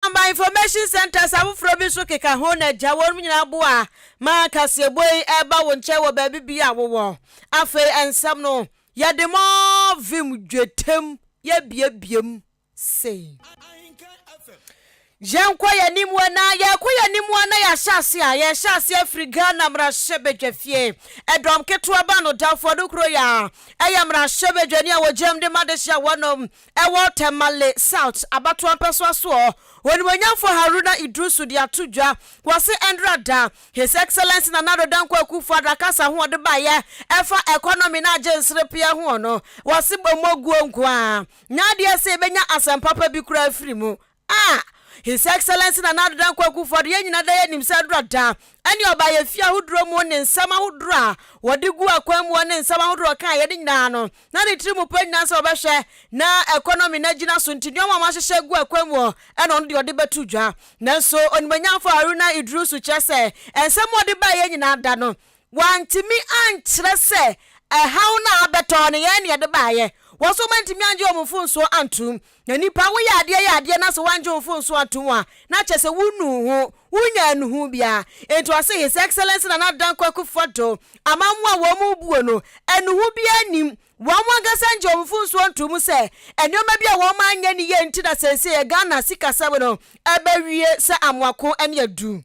Aba Information Centres afoforɔ bi nso keka ho na gya wɔnom nyinaa boa ma kaseɛbɔ yi ɛba wo nkyɛn wɔ baabi biara a wowɔ. Afei nsɛm no yɛde more vim dwetem yɛbiabiam sei. Yɛnkɔ yɛn anim wɔ na yɛkɔ yɛn anim wɔ na yɛahyɛ ase a yɛhyɛ ase afiri Ghana mmarahyɛbadwafie ɛdɔm ketewa ba no Dawfo Adokoro yɛ a ɛyɛ mmarahyɛbadwani a wɔgyinam de ma adehyeɛ wɔnom ɛwɔ Tamale South abatoɔ mpɛsoa soɔ, Onimuonyamfoɔ Haruna Iddrisu de ato dwa. Wɔse ɛndra da His Excellency Nana Addo Dankwa Akufo Addo akasa ho ɔde baeɛ ɛfa economy ne agye nserepeɛ hoɔ no, wɔse bɔ mmɔguo nkoaa na adeɛ sɛ yɛbɛnya asɛm papa bi koraa afiri mu. A His Excellency Nana Addo Dankwa Akufo-Addo, yɛn nyinaa daa nim sɛ aduru ada ne ɔbaa yɛ fie ahodoɔ mu ne nsɛm ahodoɔ a wɔde gu akwan mu hɔ ne nsɛm ahodoɔ a ɔkaeɛ no nyinaa no na ne tiri mu pɛ nyinaa sɛ ɔbɛhwɛ na economy no agyina so nti nnoɔma a wɔahyehyɛ agu akwan mu hɔ ɛna ɔno deɛ ɔde bɛto dwa nanso Onimanyamfo Haruna Iddrisu kyerɛ sɛ nsɛm a ɔde baeɛ nyinaa da no Wɔantumi ankyerɛ sɛ ɛhaw no a abɛtɔ no, yɛn na yɛde baeɛ. Wɔn nso wɔantumi angye wɔn mfomsoɔ antom. Na nnipa, woyɛ adeɛ yɛ adeɛ na sɛ woangye wo mfomsoɔ antom a, na kyerɛ sɛ wonnuu ho, wonnyaa nnuhuu biara. Enti ɔse, His Excellency Nana Dankwa Akufo-Addo, amammoa a wɔn mu rebuo no, nnuhu biara nnim. Wɔn ankasa angye wɔn mfomsoɔ antom sɛ nneɛma bi a wɔn anyɛ no yie nti na seesei Ghana sikasɛm no abɛwie sɛ amoako ne adu.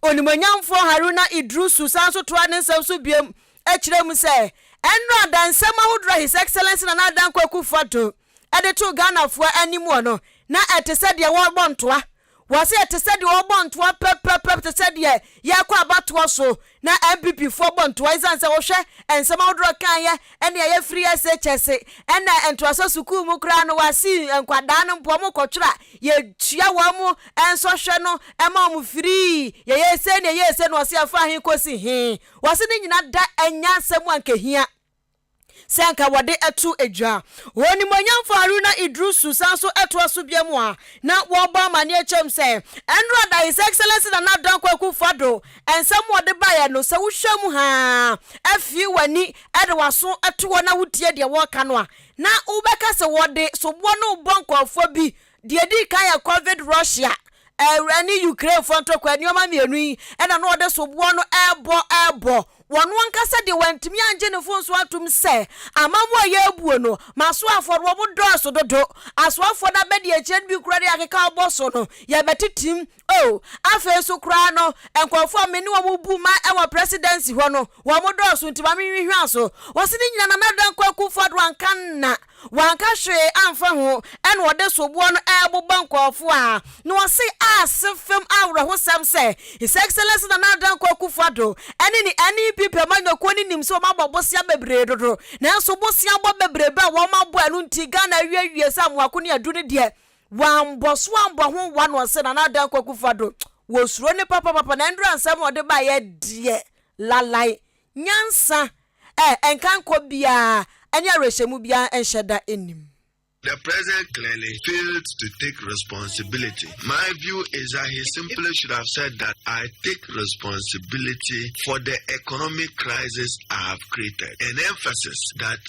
Onimuonyamfoɔ Haruna Iddrisu san nso toaa ne nsɛm so biom kyerɛɛ mu sɛ, Ɛnnora adansɛm ahodoɔ a His Excellency Nana Addo Dankwa Akufo-Addo de too Ghanafoɔ anim wɔ no, na ɛte sɛ deɛ wɔrebɔ ntoa. Wɔse ɛte sɛ deɛ wɔrebɔ ntoa pɛpɛpɛp te sɛ deɛ yɛrekɔ abatoɔ so Na NPP foɔ bɔ ntoa esiane sɛ wohwɛ nsɛm ahodoɔ a kaeɛ ɛne a yɛfiriiɛ se kyɛ se ɛna ntoasoɔ sukuu mu koraa no wasii nkwadaa no mpo wɔn kɔtwerɛ a yɛtua wɔn mo nsɔhwɛ no ɛma wɔn firii yɛyɛ sei ne yɛyɛ sei no ɔse ɛfaa he kɔsi he wɔse ne nyina da ɛnya nsɛm a nkehia sɛ anka wɔde to dwa. Onimuonyamfo Haruna Iddrisu san so toa so bio mu a na wɔrebɔ amanneɛ kyerɛm sɛ, Ɛnnora da His Excellency Nana Dankwa Akufo-Addo nsɛm a ɔde baeɛ no, sɛ wohwɛ mu haa, fie w'ani de w'aso to hɔ na wotie deɛ wɔreka no a, na wobɛka sɛ wɔde soboɔ no rebɔ nkurɔfoɔ bi Deɛ ɛdii kan yɛ Covid Russia ne Ukrainefoɔ ntɔkwa, nneɛma mmienu yi na na wɔde soboɔ no rebɔ rebɔ. Wɔn ankasa deɛ wɔantumi angye ne mfomsoɔ atom sɛ amammuo a yɛrebuo no ma asoafoɔ no wɔdɔɔso dodo. Asoafoɔ no abɛdiakyire no bi koraa de akeka wɔbɔ so no, yɛbɛtetem Oh, afei nso koraa no, nkurɔfoɔ a me ne wɔn bu ma wɔ presidency hɔ no, wɔn dɔɔso nti ma me nhwehwɛ so. Wɔsi ne nyina na Nana Dankwa Akufo Addo anka nna, wanka hwee anfa ho, ɛna ɔde soboɔ no ɛɛbobɔ nkurɔfoɔ a, na wɔsi aase fem awerɛhosɛm sɛ His Excellency Nana Dankwa Akufo Addo ɛne ne NEP pɛmanyɔkuo no nim sɛ wɔn abɔ bosea bebree dodo, nanso bosea bɔ bebrebe a wɔn abɔ ɛno nti Ghana awie awie sɛ Amoako ne Addu no deɛ Wambɔ so ambɔ ho one one sɛ Nana Addo Akua Kufu Addo wɔ suro no papapapa na ndura nsɛm a ɔde baeɛ deɛ lalan nyansa ɛ nkankɔ biara ɛne awerɛhyɛmu biara nhyɛ da nnim. The president clearly failed to take responsibility. My view is that he simply should have said that I take responsibility for the economic crisis I have created. An emphasis that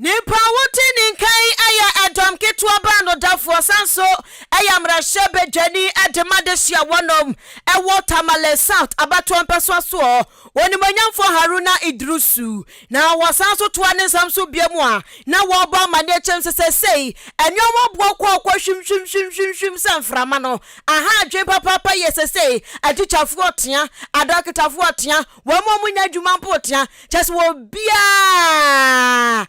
Nnipa a wodi ne nka yi yɛ dɔm ketewa baanodafoɔ san nso yɛ mmarahyɛ badwani de ma dehye a wɔnom wɔ Tamale South abatoɔ mpɛsoa soɔ, Onimuonyamfoɔ Haruna Iddrisu. Na wɔsan nso toa ne nsɛm so biom a na wɔrebɔ amanneɛ kyerɛm sɛ seesei nnoɔma boɔ kɔɔ kɔ hwimhwimhwimhwimhwim sɛ mframa no, ahaa adwene papaapa yie seesei, atikyafoɔ tea, adɔketafoɔ tea, Wɔn mu a wɔnya adwuma mpo tea, kyerɛ sɛ obiara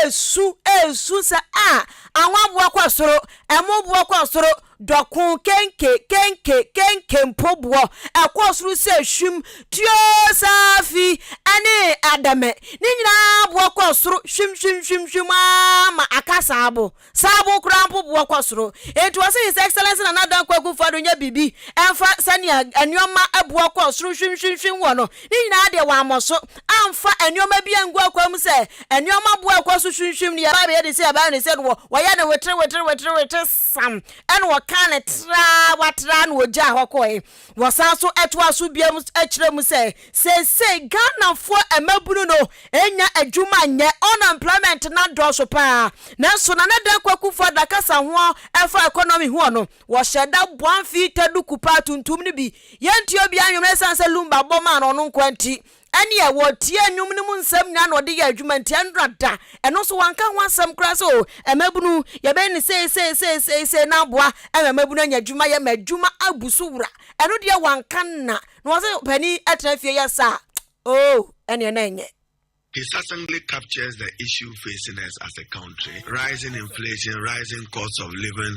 resu resu sɛ a ahoaboa kɔ soro, ɛmo boɔ kɔ soro, dɔko kenke kenke kenke mpo boɔ ɛkɔ soro sɛ hwim, tuo saafi ne adɛmɛ ne nyinaa boɔ kɔ soro hwim hwim hwim hwim aa ma akasa abo. Saa bo koraa mpo boɔ kɔ soro. Enti wɔse His Excellency Nana Addo Kwaku Nfoh Addo nyɛ biribi mfa sɛnea nnoɔma boɔ kɔ soro hwimhwimhwim wɔ no ne nyinaa deɛ wammɔ so amfa nnoɔma bi angu akwan mu sɛ nnoɔma boɔ a ɛkɔ so hwimhwim no yɛba abɛyɛ ne sei yɛba abɛyɛ ne sei no wɔyɛɛ no weterewetereweterewetere sam ɛna wɔkaa no traa watraa na ɔgyaa hɔ kɔɔe. Wɔsan nso toa so bio kyerɛ mu sɛ, seesei Ghanafoɔ mmabunu no nnya adwuma nyɛ, unemployment no adɔɔso pa ara. Nanso Nana Dan Kwaku Foah da kasa ho ɛfa economy ho ɔno, wɔhyɛ da boa mfii tɛ duku paa tuntum no bi. Yɛntua obiara nnwom ɛsiane sɛ Lumba bɔ maa no ɔno nkoa nti. Ɛnneɛ wɔtiee nnwom no mu nsɛm nyinaa na wɔde yɛɛ adwuma, enti ɛnnora da. Ɛno nso, wɔanka ho asɛm koraa sɛ, O mmabunu, yɛbɛyɛ no sei, sei, sei, sei, sei, na aboa ma mmabunu anya adwuma yɛ, ma adwuma abu so wura. Ɛno deɛ, wɔanka nna. Na wɔse panin tena fie yɛ saa a, oo, ɛnneɛ na ɛnyɛ. His assembly captures the issue facing us as a country, rising inflation, rising cost of living,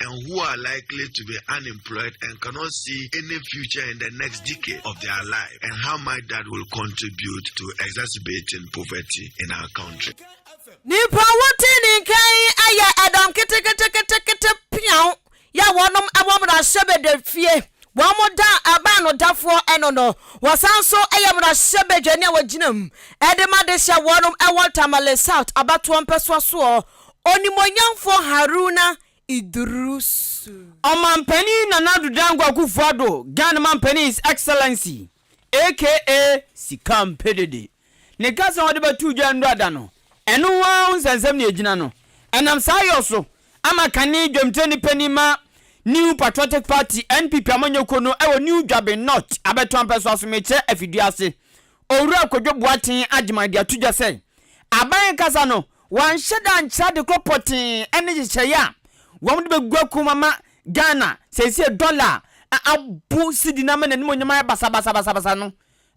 and who are likely to be unemployed and cannot see any future in the next decade of their life, and how much that will contribute to exacerbating poverty in our country. Nipa wote ne nkan yi ayɛ ɛdɔm keteketekete peaw yɛ wɔnom ɛwɔ mmarahyɛbadwa fie wɔn da ɛbaa no dafoɔ ɛno no wɔsan so ɛyɛ mmarahyɛbadwa ne a wɔgyina mu ɛde ma de hyɛ wɔnom ɛwɔ Tamale South abatoɔ mpɛsoa soɔ Onimuonyamfoɔ Haruna Iddrisu. Ɔmanpanin Nana Addo Dankwa Akuffo Addo, Ghana Manpanin His Excellency aka Sika Mpedede, ne kasa a ɔde bɛtoo dwa nnura da no, ɛno nko ara ho nsɛnsɛm na ɛgyina no. Ɛnam saa yɔ so ama kane dwamtirani panin ma New Patriotic Party, NPP, amanyɔkuo no wɔ New Dwaben North, Abɛtoampɛ so Asomekyerɛ Afidie ase, Owura Kwadwo Boateng Agyemang de ato dwa sɛ, Aban kasa no, Wɔanhyɛ da ankyerɛ ade korɔ pɔtee ne nhyehyɛeɛ a wɔde bɛgu akum ama Ghana seesei dɔla a abo sidi no ama n'animuonyam ayɛ basabasabasabasa no.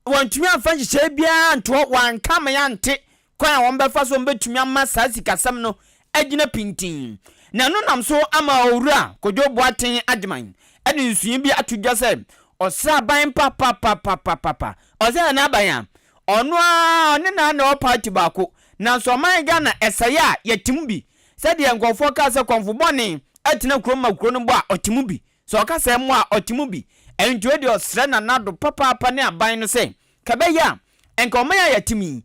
Wɔantumi amfa nhyehyɛeɛ biara antoɔ, wɔanka ama yɛante kwan a wɔbɛfa so a wɔbɛtumi ama saa sikasɛm no agyina pintinn. Na ɛno nam so ama Owura Kojo Boateng Agyman de nsuyɛ bi ato dwa sɛ ɔsraban papapapapapa, ɔsɛ yɛn aban a, ɔno ara ɔne no ara na ɛwɔ party baako, Nanso ɔman Ghana ɛsɛeɛ a yɛte mu bi sɛdeɛ nkurɔfoɔ kaa sɛ kɔmfo bɔne atena kurom ma kuro no bɔ a ɔte mu bi sɛ ɔka sɛ mmoa a ɔte mu bi ɛnto wei deɛ ɔsrɛ Nana Addo papaapa ne aban no sɛ ka ɛbɛyɛ a nka ɔman a yɛte mu yi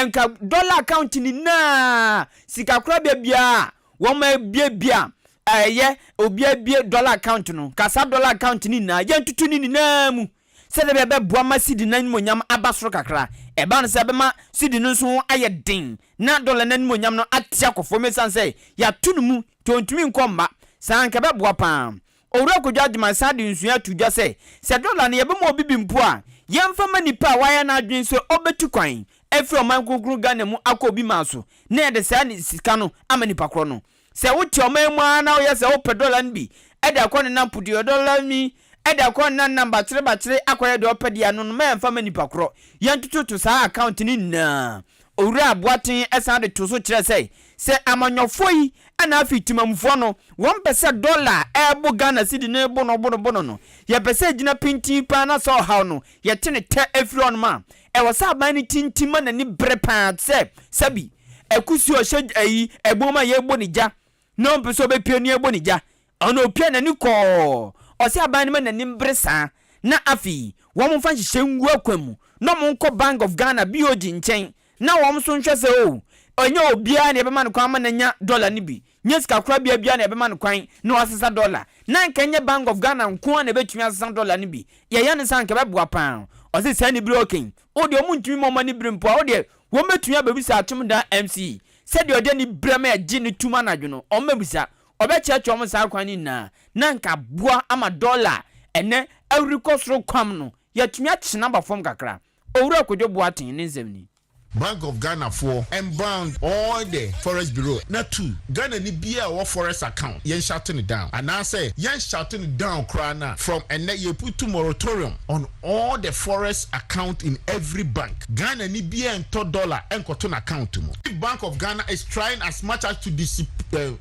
nka dollar account nyinaa sika korabea biara a wɔn abiebie a ɛyɛ obiara bie dollar account no nka saa dollar account no nyinaa yɛntoto ne nyinaa mu Sɛnea ɛbɛyɛ a ɛbɛboa ma cedi no animuonyam aba soro kakra. Ɛbaa no sɛ ɛbɛma cedi no nso ho ayɛ den na dɔla no animuonyam no ate akɔ fam esiane sɛ yɛato no mu nti ontumi nkɔ mma. Saa anka ɛbɛboa paa. Owura Kojo Agyemang san de nsuyɛ ato dwa sɛ, sɛ dɔla no yɛbɛma obi bi mpo a, yɛmfa mma nipa a wayɛ n'adwene sɛ obetu kwan afi ɔman kronkron Ghana mu akɔ Obi Man so na yɛde saa sika no ama nipa korɔ no. Sɛ wote ɔman mu ara na woyɛ sɛ wopɛ dɔla no bi de akɔ nenam puduodɔla mi de akɔ nenam nam bakyere bakyere akɔyɛ deɛ ɔpɛ deɛ ano no ma yɛmfa mma nipa korɔ. Yɛntototo saa account no nyinaa. Owura Boaten san de too so kyerɛɛ sɛ, Sɛ amanyɔfoɔ yi na afei Temammufoɔ no, wɔn pɛ sɛ dɔla a ɛrebo Ghana cedi no rebo no bono bono no, yɛpɛ sɛ ɛgyina pintinn paa na sɛ ɔhaw no yɛte no tɛ firi hɔnom a, Ɛwɔ sɛ aban no tintim ma n'ani bere paa te sɛ sɛbi akusi a ɔhyɛ ayi ɛbom a yɛrebɔ no gya na ɔmpɛ sɛ ɔbɛpia nea yɛrebɔ no gya. Ɔno ɔpia n'ani kɔɔ. Ɔsɛ aban no ma n'ani mbere saa na afei wɔmfa nhyehyɛe ngu akwan mu na wɔnkɔ Bank of Ghana, BOG, nkyɛn na wɔn nso nhwɛ sɛ oh, ɛnyɛ obiara na yɛbɛma no kwan ama no anya dɔla no bi. nyɛ sikakorabea biara na ɛbɛma no kwan na wasesa dɔla. Na anka ɛnyɛ Bank of Ghana nko ara na ɛbɛtumi asesa dɔla no bi. Yɛyɛ no saa a, anka ɛbɛboa pa ara. Ɔse, Saa anibere a ɔka yi, o deɛ wɔntumi mma wɔn ani bere mpo a, o deɛ wɔbɛtumi abɛbisa Atomdan MC sɛdeɛ ɔde anibere ma yɛgye no tom anadwo no, wɔbɛbisa. Ɔbɛkyerɛkyerɛ wɔn saa kwan no nyinaa, na anka aboa ama dɔla a ɛnnɛ ahururekɔ soro kwam no, yɛatumi akye no aba fam kakra. Owura Kojo Boateng ne nsɛm nie. Bank of Ghana foɔ and bound all the forest bureau na tu Ghana ni biaa ɔwɔ forest account yɛn shut no down anaa sɛ yɛn shut no down koraa no a from ɛnnɛ yɛ putu moratorium on all the forest account in every bank Ghana ni biaa ntɔ dollar nkɔto n'account mu. Bank of Ghana is trying as much as to discipline.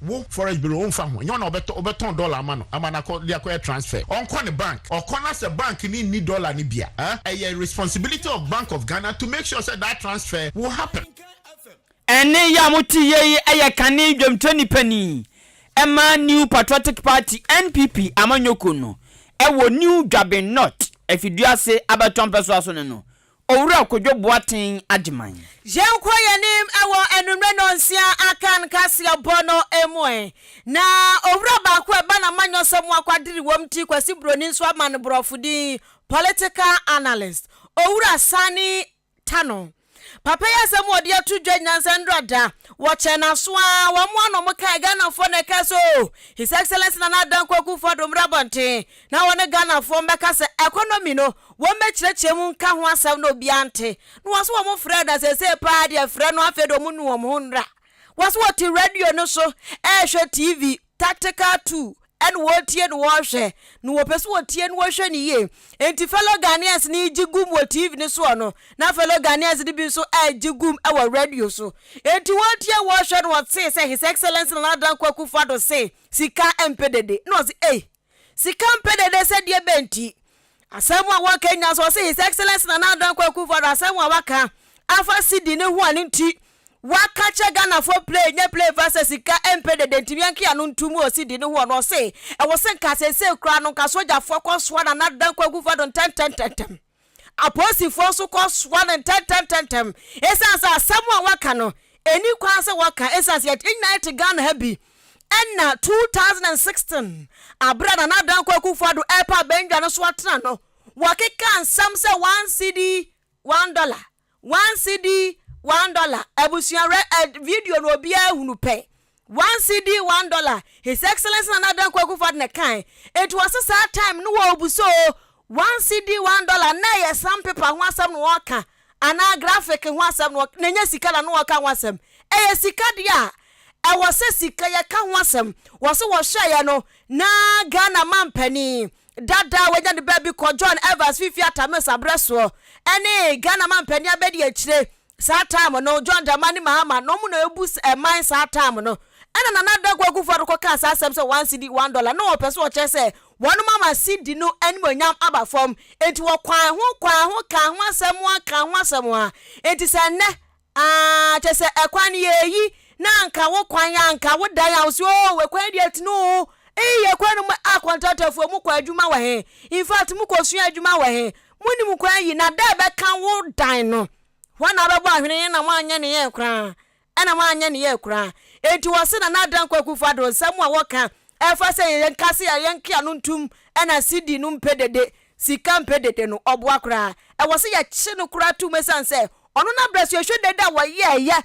Wo forex bureau wonfa ho, nyɛ wo na wobɛtɔ wobɛtɔn dollar ama no ama no akɔ de akɔyɛ transfer, ɔnkɔ ne bank ɔkɔ na sɛ bank no nni dollar no bi a ɛɛ ɛyɛ responsibility of bank of Ghana to make sure sɛ that transfer will happen. Ɛnne yi a mote yɛ yi yɛ kane dwamtrani panin ma New Patriotic Party, NPP, amanyɔkuo no wɔ New Dwaben North, Afiduase Abatoɔ Mpɛsoa so no no, Owura Kwadwo Boateng Agyeman. Yɛnkɔ yɛn anim wɔ anwummerɛ nnɔnsia aka no kaseɛbɔ no mu ɛ. Na owura baako a ɛba n'amanyɔsɛm mu akwadere wɔ mu ti Kwasi Broni nso ama no borɔfo din, political analyst. Owura Sani Tano. Papa yi asɛm a ɔde ato dwa nnansa nnora da, wɔkyɛɛ no aso ara, wɔamoa no, wɔkae, Ghanafoɔ na ɛkae sɛ, Oh, His Excellency Nana Addo Dankwa Akufo-Addo mmra abɔnten. Na wɔne Ghanafoɔ mmɛka sɛ economy no wɔn mmɛkyerɛkyerɛ mu nka ho asɛm na obiara nte. Na wɔse wɔn frɛ na seesei paa deɛ frɛ no afei deɛ wɔn nu wɔn ho nnra. Wɔse wɔte radio no so ɛɛhwɛ TV, tactical two, ɛna wɔretie na wɔrehwɛ. Na wɔpɛ sɛ wɔtie na wɔhwɛ no yie. Enti fellow Ghanaians no regye gum wɔ TV no soɔ no, na fellow Ghanaians no bi nso ɛregye gum wɔ radio so. Enti wɔretie wɔrehwɛ na wɔtee sɛ His Excellency Nana Dankwa Akufo-Addo se sika mpɛ dede. Na wɔse ei! Sika mpɛ dede sɛ deɛ bɛn nti? Asɛm a wɔka nyinaa so ɔse His Excellence Nana Addo Dankwa Akufo-Addo asɛm a waka afa cedi no ho a ne nti waka kyerɛ Ghanafoɔ play nyɛ play fa sɛ sika mpɛ dede nti yɛnke ano ntom wɔ cedi no ho ɔno ɔse ɛwɔ se nka seesei koraa no nka sogyafoɔ kɔsoa Nana Addo Dankwa Akufo-Addo ntɛntɛntɛntɛm Apolisifoɔ nso kɔsoa no ntɛntɛmntɛntɛm ɛsiane sɛ asɛm a waka no ɛnni kwan sɛ wɔka ɛsiane sɛ yɛn nyinaa yɛte Ghana ha bi. Ɛnna 2016 berɛ a Nana Dankwa Akufo-Addo repa abandwa no so atena no, wɔkekaa nsɛm sɛ one cedi, one dollar. One cedi one dollar abusua re ed video no obiara hunu pɛ one cedi one dollar his excellence nana danko akufo ado na kae enti wɔse saa time no wɔ obu so one cedi one dollar na ɛyɛ sam paper ho asɛm na wɔka anaa graphic ho asɛm na na ɛnyɛ sika na na wɔka ho asɛm ɛyɛ sika deɛ a ɛwɔ sɛ sika yɛka ho asɛm wɔse wɔhwɛeɛ no na Ghana mampanin Dada a wanya ne baabi kɔ John Evans Fifi Atame Sabrɛ soɔ ɛne Ghana Mampanin abɛdi akyire saa time no John Dramani Mahama na ɔmo na ɛbu ɛman saa time no ɛna Nana Adakuu Akufo Addo kɔ kaa saa asɛm sɛ one cedi one dollar na ɔpɛ sɛ ɔkyerɛ sɛ wɔnom ama cedi no animonyam aba fam enti wɔkwaan ho kwaan ho kaa ho asɛm ho kaa ho asɛm ho enti sɛ nnɛ Aah kyɛ sɛ ɛkwan no yɛ eyi na anka wo kwan anka wo dan a wo se oo ɛkwan yi deɛ tene oo eii ɛkwan no mu ah contractor foɔ mo kɔ adwuma wɔ he in fact mo kɔ sua adwuma wɔ he mo nim kwan yi na dɛ ɛbɛka wo dan no hɔ na abɛbɔ ahwene yɛ na mo anyɛ ne yɛ koraa ɛna mo anyɛ ne yɛ koraa enti wɔ se na na adan kwaku fa do nsɛm a wɔka Ɛfa sɛ yɛyɛ nkase a yɛnke ano ntom ɛna CD no mpɛ dede, sika mpɛ dede no, ɔboa koraa. Ɛwɔ sɛ yɛkye no koraa tom ɛsiane sɛ ɔno na berɛ so yɛhwɛ dede a wɔyɛɛyɛ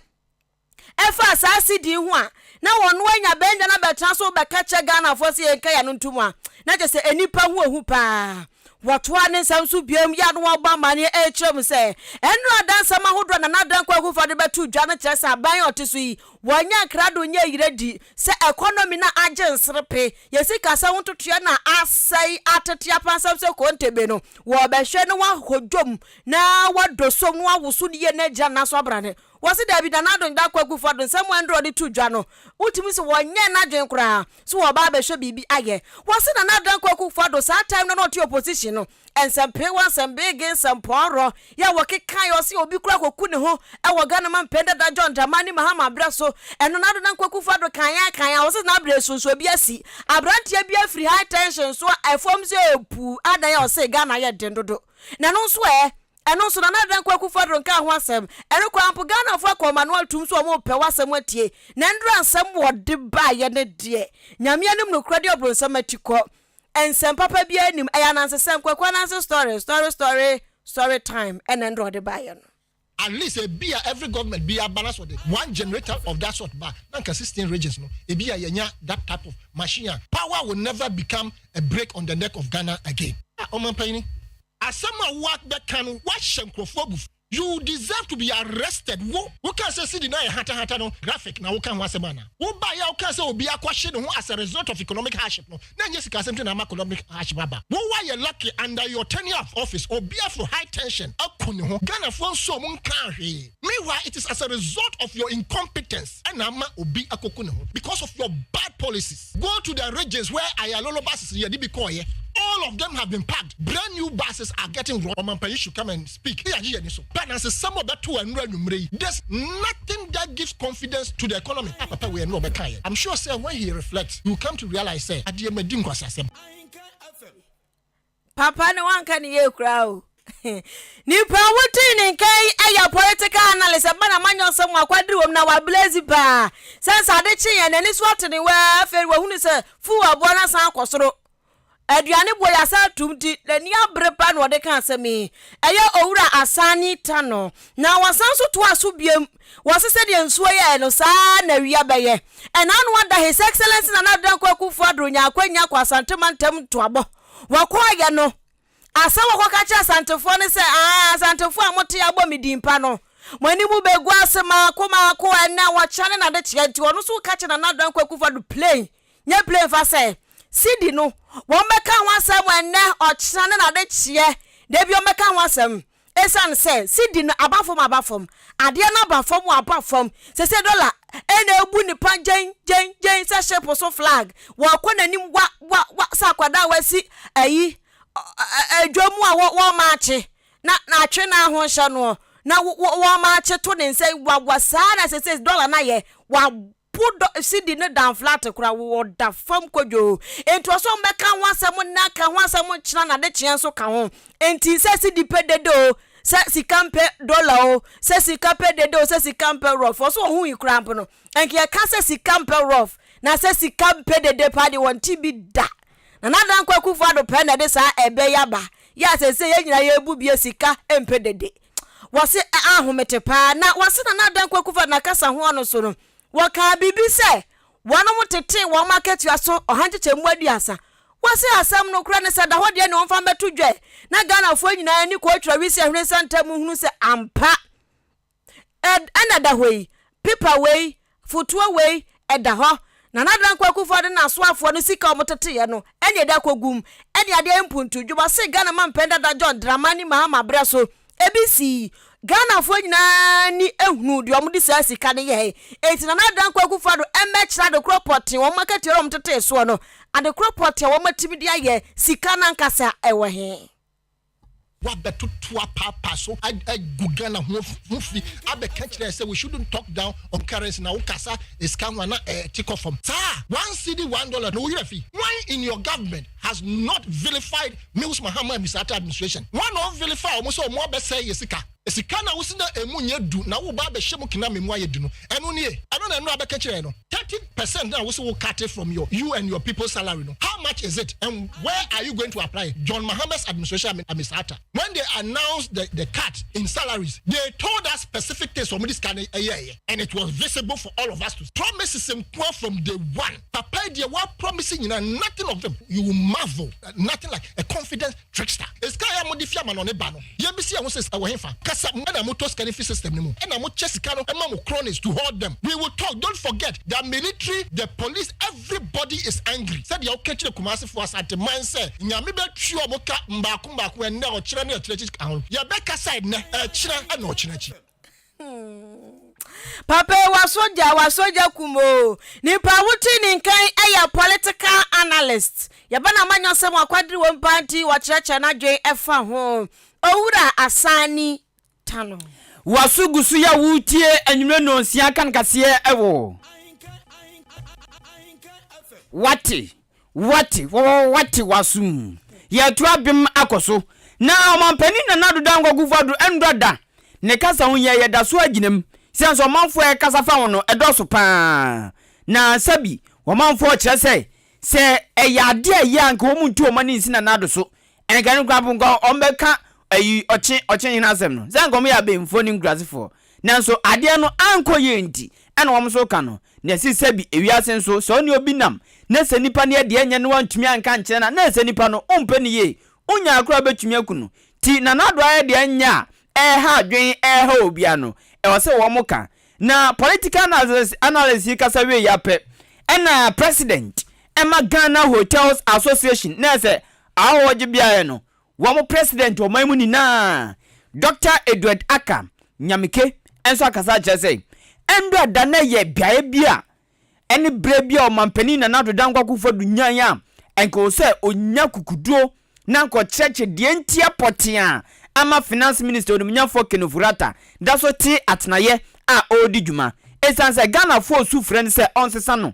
ɛfaa saa CD yi ho a na ɔno anya bɛnya no abɛtena so rebɛka kyerɛ Ghanafoɔ sɛ yɛnka yɛn ano ntom a na kyerɛ sɛ nnipa ho ahu paa. Wɔtoaa ne nsɛm so bio yi ano a ɔbɔ amanneɛ rekyerɛ mu sɛ, Nnuru adansɛm ahodoɔ a Nana Dankwa Akufo-Addo bɛtoo dwa no kyerɛ sɛ aban a ɔte so yi, wɔanya nkrado nyɛ ayiradi, sɛ ɛkɔnɔmi no agye nserepe, yɛn sikasɛm ho ntotoeɛ no asɛe atete apansam sɛ kontebe no, wɔrebɛhwɛ na wɔahodwo mu na wɔadɔ som na wɔawoso ne yie na agyina nna so abrane. Wɔse daabi na n'adwen da Kwakufoɔ adwen sɛ mmoa nnuro ɔde to dwa no wotumi se wɔnyɛɛ n'adwen koraa so wɔɔba abɛhwɛ biribi ayɛ. Wɔse Nana Adan Kwaku Foah Addo saa time no a na ɔte opposition no nsɛmpee wɔ nsɛmbeegee nsɛmpɔɔrɔ yɛ a wɔkekaeɛ ɔse obi koraa kɔku ne ho wɔ Ghana ma mpɛn dada John Dramani Mahama berɛ so ɛno Nana Adan Kwaku Foah Addo kaeɛ a kaeɛ a wɔse saa berɛ so nso obi asi abranteɛ bi afiri high tension so a ɛfam sɛ puu adan a ɔse Ghana yɛ den dodo na ɛno nso ɛ Ɛno nso Nana Dankwa Akufo-Addo nkaa ho asɛm. Ɛrekɔ ara mpo Ghanafo akɔ ɔman no atom so a wɔrepɛ w'asɛm atie. Na nnora nsɛm wɔde baeɛ no deɛ, Nyame anim nokorɛ deɛ ɔbronsam akyi kɔ. Nsɛm papa biara nnim. Ɛyɛ anansesɛm, Kwaku Ananse story, story story story time ɛna nnora wɔde baeɛ no. At least ebia every government bi aba na sɛ ɔde one generator of that sort ba na anka sixteen regions no ebia yɛanya that type of machine a power will never become a break on the neck of Ghana again. Ah, Ɔmampanyini, Asɛm a woa bɛka no woahyɛ nkurɔfoɔ abufuo. You deserve to be arrested wo wokaa sɛ CD no ayɛ hatahata no graphic na woka ho asɛm anaa? Wobaeɛ a wokaa sɛ obi akɔhye ne ho as a result of economic hardship no na ɛnyɛ sika asɛm nti na ama economic hardship aba. Wo woayɛ lucky under your tenure of office obi aforo high tension aku ne ho Ghanafoɔ nso ɔmo nkaa hwee meanwhile it is as a result of your incompetence ɛna ama obi akɔku ne ho because of your bad policies. Go to the regions where Ayalolo buses yɛde bi kɔɔeɛ all of them have been packed brand new buses are getting wrong ɔmampanin should come and speak yɛagye yɛn ani so pɛ nansesɛm ɔbɛto ɛnura anwummere yi this nothing that gives confidence to the economy a papa wei ɛnura ɔbɛka yɛn I'm sure sɛ when he reflects he will come to realize sɛ adeɛ ma di nkwaseasɛm. Papa no wanka ne yie koraa o. Nipa a wotii ne nkan yi yɛ political analyst ɛba na manyɛ ɔsɛ mu akwadiri wɔm na wablezi paa sɛ sɛ ade kye yɛn n'ani so ate ne wɛɛ afei wahunu sɛ fuu aboa no asan akɔ soro aduane boɔ yɛ asan atum nti n'ani abere paa na ɔde ka asɛm yi ɛyɛ owura asane ta no na wasan so toa so biem wɔse sɛdeɛ nsuo yɛɛ no saa na awia bɛyɛ ɛna ano ada his excellence na na adanko akufo adoro nya akwanya kɔ asante mantam ntoabɔ Wɔkɔeɛ no, asɛ wɔkɔka kyerɛ Asantefoɔ no sɛ, Aa, Asantefoɔ a mote abɔ me din pa no, mo anim bɛgu ase maako maako ɛnnɛ, ɔkyena ne n'adekyeɛ nti. Ɔno nso ka kyerɛ Nana Dankwa Akufo-Addo plane, nyɛ plane fa sɛ, Sidi no, wɔmmɛka ho asɛm ɛnnɛ, ɔkyena ne n'adekyeɛ, da bi wɔmmɛka ho asɛm. Esiane sɛ cedi no aba fam aba fam, adeɛ no aba fam aba fam, seisei dɔla na ɛbu nnipa gyen gyen gyen sɛ ship so flag, wɔkɔ n'anim wa wa wa sɛ akwadaa a wasi ayi ɛ ɛ dwa mu a wɔ wɔmaakye na na atwe no ho nhyɛ noɔ na wɔ wɔmaakye to ne nsa yi wa wa saa na seisei dɔla no ayɛ wa Po dɔ sidi no dan flat koraa wo ɔda fam kodwoo enti ɔsɛ ɔmo bɛka ho asɛm nna ka ho asɛm nkyena na ade kyeɛ nso ka ho enti sɛ sidi pɛ dede o sɛ sika mpɛ dollar o sɛ sika pɛ dede o sɛ sika mpɛ rough ɔsɛ ɔho yi koraa mpo no nka yɛka sɛ sika mpɛ rough na sɛ sika mpɛ dede paa deɛ wɔnte bi da na nadan kwaku fado pɛ na ɛde saa ɛbɛ yaba yɛ asɛsɛ yɛ nyina yɛ bu bie sika mpɛ dede wɔse ahomete paa na wɔse Nana Adang Kwaku fa nakasa ho ɔno so no wɔkaa biribi sɛ wɔnom tetee wɔn akatua so ɔha nkyekyɛmu aduasa wɔse asɛm no korɛ ne sɛ da hɔ deɛ ne wɔmfa mbɛto dwa na Ghanafoɔ nyinaa ani kɔɔ twerɛ wisi ahwene nsɛnta mu hunu sɛ ampa ɛna da hɔ yi pepa wei Fotuo wei da hɔ. Nana Adan Kwaku Ford ne n'asoafoɔ no sika a wɔteteeɛ no na ɛde akɔgum. Ɛne adeɛ mpuntu. Juba se Ghana mampɛn dada John Dramani Mahama berɛ so ebi sii. Ghanafoɔ nyinaa ani hunuu deɛ wɔde saa sika no yɛɛe. Enti Nana Adan Kwaku Ford mmɛkyerɛ adekorɔ pɔtee wɔn akatua a wɔtetee soɔ no. Adekorɔ pɔtee a wɔatumi de ayɛ sika no ankasa wɔ he? wabɛtoto apaapaa so agu Ghana ho ho fi abɛka kyerɛ yɛ sɛ we shouldn't talk down on currency na wokasa sika ho a na ɛte kɔ fam saa one cedi one dollar na woyerɛ fi wan in your government has not vilified Mills Mahama Musrata administration wan na ɔvilify wɔn sɛ wɔn abɛsɛe yɛ sika Sika no a wosi na emu nyɛ du na woreba abɛhyɛ mu kena ma emu ayɛ du no, ɛno nie? Ɛno na mmara bɛka kyerɛɛ no. Thirty percent no a wose wo cut from your you and your people's salary no, how much is it and where are you going to apply it? John Mahama's administration and and Mister Atta, when they announced the the cut in salaries, they told us specific things wɔn de sika no ɛyɛɛyɛ and it was visible for all of us to see. Promises nkoa from day one. Papa yi deɛ wa promise nyinaa, nothing of them, you will marvel, nothing like a confidence. Trickster, Sika a mode fi amanɔne ba no, yɛbisa yɛn ho sɛ ɛwɔ hefa? Kasa mu na motɔ sika no fi system no mu na mokyɛ sika no ma mo cronies to hoard them. We will talk, don't forget the military, the police, everybody is angry sɛdeɛ woka kyerɛ Kumasefoɔ, Asanteman sɛ Nyame bɛtua mo ka mmaako mmaako ɛnnɛ, ɔkyerɛ ne akyirɛ akyi ka ho. Yɛbɛkasa ɛnnɛ, ɛkyerɛ ɛna ɔkyerɛ akyi. papa yi wasogya wasogya kum o nipa wote ne nkan yɛ political analyst yɛbɛ na ma nyɔsɛm wakwadere wɔn paa nti wɔkyerɛkyerɛ n'adwene ɛfa ho owura asani tano waso gu so yɛ a wotie anwummerɛ nɔnsia kan kaseɛ ɛwɔ wate Wɔate, wɔate w'asom. Yɛreto abem akɔ so. Na Ɔmanpanin Nana Addo Dankwa Akufo-Addo nnɔ da. Ne kasa ho hia, yɛda so ara gyina mu. Esiane sɛ ɔmanfo a ɛrekasa fa ho no, ɛdɔɔso pa ara. Na sɛbi, ɔmanfo rekyerɛ sɛ, sɛ ɛyɛ ade a eye a anka wɔntu ɔman nsi Nana Addo so. Nka no koraa mpo, nka wɔbɛka ayi ɔkye ɔkye hene asɛm no, sɛ anka wɔyɛ abenfoɔ ne nkurasefoɔ, nanso adeɛ no ankɔ yie nti ɛna wɔn nso reka no, na ɛsi sɛbi ewiase nso, sɛ ɔne obi nam na sɛ nipa no yɛ deɛ ɛnyɛ na wantumi anka ankyerɛ no a, na ɛsɛ nipa no wompɛ no yie, wonyaa koraa wobɛtumi aku no, nti Nana Addo ayɛ deɛ ɛnyɛ a ɛreha adwene ɛreha obiara no, ɛwɔ sɛ wɔka. Na political analysis analysis yi kasa wieeɛ ara pɛ, ɛna President ɛma Ghana Hotels Association na ɛsɛ Ahɔhogye beaɛ no wɔn president ɔman mu nyinaa Doctor Edward Aka Nyamike nso akasa akyerɛ sɛ Ndura da no yɛ beaɛ bi a ɛne berɛ bi a ɔmanpanin Nana Addo Dankwa Akufo Addo nyae a anka ɛwɔ sɛ ɔnya kukuduro na anka ɔkyerɛkyerɛ deɛ ntia pɔtee a ama finance minister onimnyafoɔ Ken Ofori-Atta da so te atenaeɛ a ɔredi dwuma ɛsiane sɛ Ghanafoɔ resu frɛ no sɛ ɔnsesa no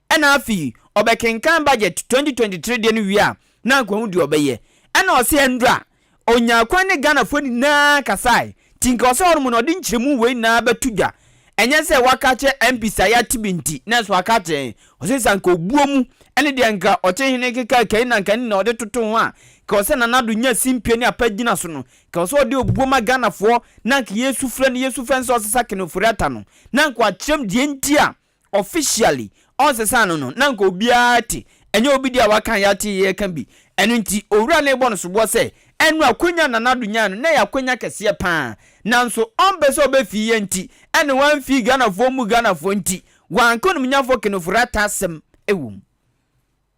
Ɛna afei ɔbɛkenkan budget twenty twenty three deɛ no wie a na anka wahu deɛ ɔbɛyɛ. Ɛna ɔse ɛndrɛ a ɔnyaa kwan ne Ghanafoɔ nyinaa kasae. Nti nka ɔsɛ hɔnom no ɔde nkyerɛmu wei nyinaa bɛto dwa. Ɛnyɛ sɛ waka akyerɛ MPs a yɛate bi nti nanso waka akyerɛ yɛn. Ɔse sɛ anka ɔbuo mu ne deɛ anka ɔte hene keka kɛi na anka ne nyinaa ɔde toto ho a nka ɔsɛ Nana Addo nya simpie ne apa gyina so no. Nka ɔsɛ ɔde obuo ma Ghanafoɔ na anka yɛsu frɛ no yɛsu frɛ no sɛ ɔsesa Ken Ofori-Atta no na anka wakyerɛm deɛ nti a Officially ɔnsesa no no na nka obiara te, ɛnyɛ obi de a waka a yɛate yɛka bi. Ɛno nti Owura no rebɔ no soboɔ sɛ ɛno akwanya a Nana Addo nyae no na ɛyɛ akwanya kɛseɛ pa ara. Nanso ɔmpɛ sɛ ɔbɛfii yɛn nti ɛna wamfii Ghanafoɔ mu Ghanafoɔ nti wanka onimnyafoɔ Kenofo Rattah asɛm wɔ mu.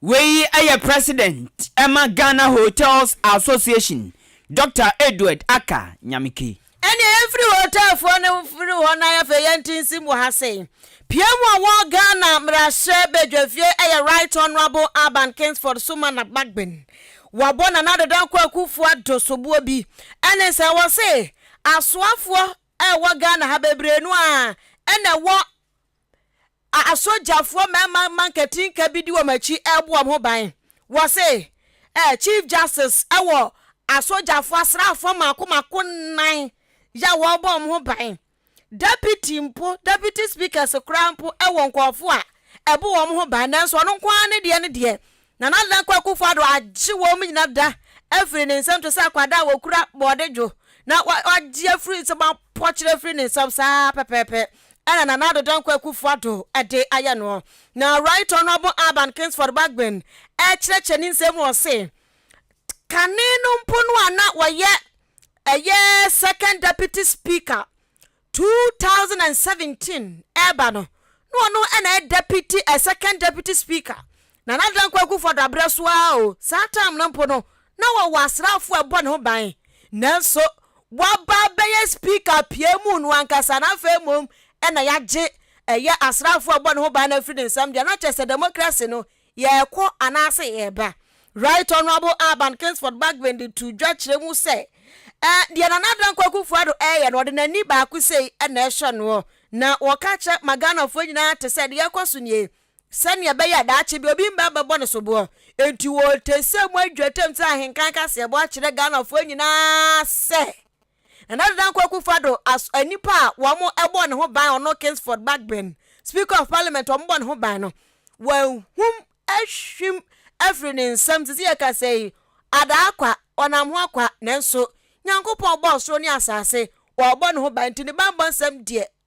Wei yɛ President ma Ghana Hotels Association Doctor Edward Aka Nyameke. Ɛneɛ yɛmfiri hotel foɔ no mfiri hɔ na afei yɛntintim wɔ ha sei. Piam a ɔwɔ Ghana mmarahyɛ badwafie yɛ Right Honourable Alban Kingsford Sumana Bagbin. Wabɔ Nana Addo Dankwa Akuffo Addo soboɔ bi ɛne sɛ wɔse asoafoɔ a ɛwɔ Ghana ha bebree no ara na ɛwɔ asogyafoɔ mmarima mma nkatinka bi di wɔn akyi rebɔ wɔn ho ban. Wɔse eh, Chief Justice wɔ asogyafoɔ asraafoɔ mako mako nnan yɛ a wɔrebɔ wɔn ho ban. Deputy mpo, deputy speakers koraa mpo wɔ nkurɔfoɔ a ɛbɔ wɔn ho ban nanso ɔno nko ara ne deɛ ne deɛ Nana Dankwa Akufo-Addo agye wɔn nyinaa da afiri ne nsam te sɛ akwadaa a wɔkura bɔɔde dwo na wɔagye afiri nsam apɔkyere afiri ne nsam saa ara pɛpɛɛpɛ na Nana Addo Dankwa Akufo-Addo de ayɛ noɔ. Na Right Honourable Alban Kingsford Bagbin rekyerɛkyerɛ ne nsam mu ɔse, Kane no mpo no a na ɔyɛ ɛyɛ Second Deputy Speaker 2017 reba no, na ɔno na ɛyɛ deputy eh, second deputy speaker. Nana Dankwa Akufo-Addo abrɛ so ara o, saa time no mpo no, na wɔwɔ asraafo a ɛbɔ ne ho ban. Nanso, waba abɛyɛ speaker piamuu no ankasa, na afei mmom na yɛagye ɛyɛ asraafo a ɛbɔ ne ho ban no afiri ne nsam deɛ, na kyerɛ sɛ democracy no, Yɛrekɔ anaase yɛreba? Right Honourable Alban Kingsford Bagbin de too dwa kyerɛ mu sɛ, Eh, deɛ Nana Dankwa Akufo-Addo reyɛ no, ɔde n'ani baako sei na ɛhwɛ noɔ. Na wɔka kyerɛ ma Ghanafoɔ nyinaa te sɛ deɛ ɛrekɔ so nie, sɛdeɛ ɛbɛyɛ a daakye bi obi mma bɛbɔ no soboɔ. Enti wɔte sɛ moadwatam sɛ ahenkan kaseɛbɔ akyerɛ Ghanafoɔ nyinaa sɛ, Na na Dankwa Akufo-Addo as nipa a wɔbɔɔ ne ho ban, ɔno Kingsford Bagbin, Speaker of Parliament a wɔbɔɔ ne ho ban no, wɔahum ahwim afiri ne nsam. Sisi yɛkasa yi, Adah akwa, ɔnam ho akwa, nanso Nyankopɔn ɔbɔɔ soro ne asase, ɔrebɔ ne ho ban nti ne banbɔ nsɛm deɛ,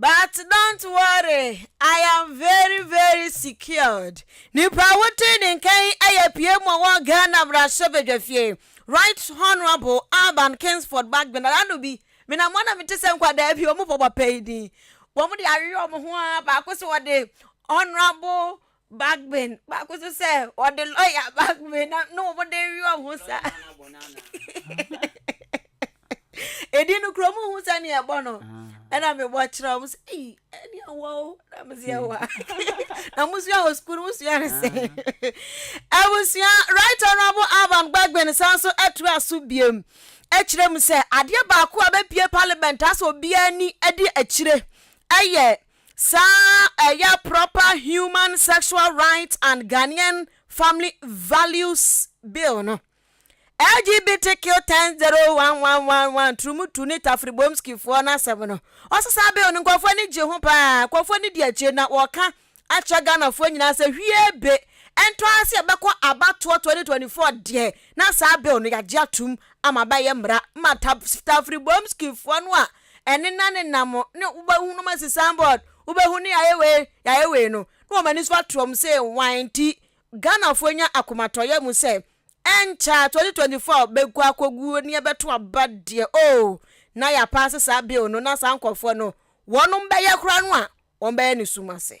But don't worry I am very very secured nipa wote ne nka yi yɛ PM ɔwɔ Ghana mmarahyɛ badwa fie Right Honourable Alban Kingsford Bagbin Adano bi menam hɔ na mete sɛ nkwadaa bi wɔn bɔ papa yi din wɔn de awewe wɔn ho ara baako sɛ wɔde Honourable Bagbin, baako nso sɛ ɔde lɔya Bagbin na na wɔn de rewe wɔn ho saa. Edi no kura mu hu sɛ nea ɛbɔ no, ɛna mi bɔ kyerɛ wɔn sɛ eyi ɛni ɛwɔ o na mi si ɛwɔ a na mo sua wɔ sukuu mo sua ne sɛ ɛbusua right honourable Alban Bagbin san so ɛtu aso biem ɛkyerɛ mu sɛ adeɛ baako a bɛpie parliament asɛ obiara ni ɛde akyire ɛyɛ. Saa ɛyɛ proper human sexual rights and Ghanaian family values bill no. LGBTQ ten zero one one one one Turumutu ne Tafribomski foɔ no asɛm no, ɔse saa bill no nkurɔfoɔ ani gye ho paa, nkurɔfoɔ ani di akyire na wɔka akyerɛ Ghanafoɔ nyinaa sɛ hwie be ɛntɔ ara sɛ yɛbɛkɔ abatoɔ twenty twenty four deɛ na saa bill no yɛagye atom ama abɛyɛ mmara ma Tafribomski foɔ no a ɛne na ne nam ne wobɛhu no masi signboard wobɛhu ne yɛayɛ wei yɛayɛ wei no na wɔn ani so atoam sɛ wan nti Ghanafoɔ nya akomatɔyɛ mu sɛ ɛnkyɛ a 2024 bɛgu akɔguo ne ɛbɛto aba deɛ oo na yɛapaase saa bill no na saa nkurɔfoɔ no wɔnom bɛyɛ koraa no a wɔn bɛyɛ ne sum ase.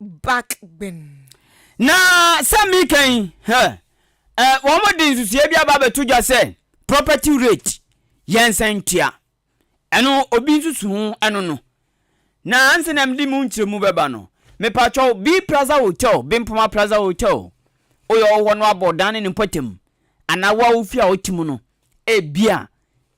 back gbenn. Na sɛ meka yi, hɛ, ɛ, wɔde nsusuiɛ bi aba abɛto dwa sɛ property rate yɛ nsɛntua. Ɛno obi nsusu ho ɛno no. Na ansa na mede mu nkyerɛmu bɛba no, mepatwɔw B Plaza Hotel, Bimpoma Plaza Hotel, woyɛ wɔ hɔ no abɔ dan ne ne mpɔtam anaa wo a wofi a wote mu no, ebia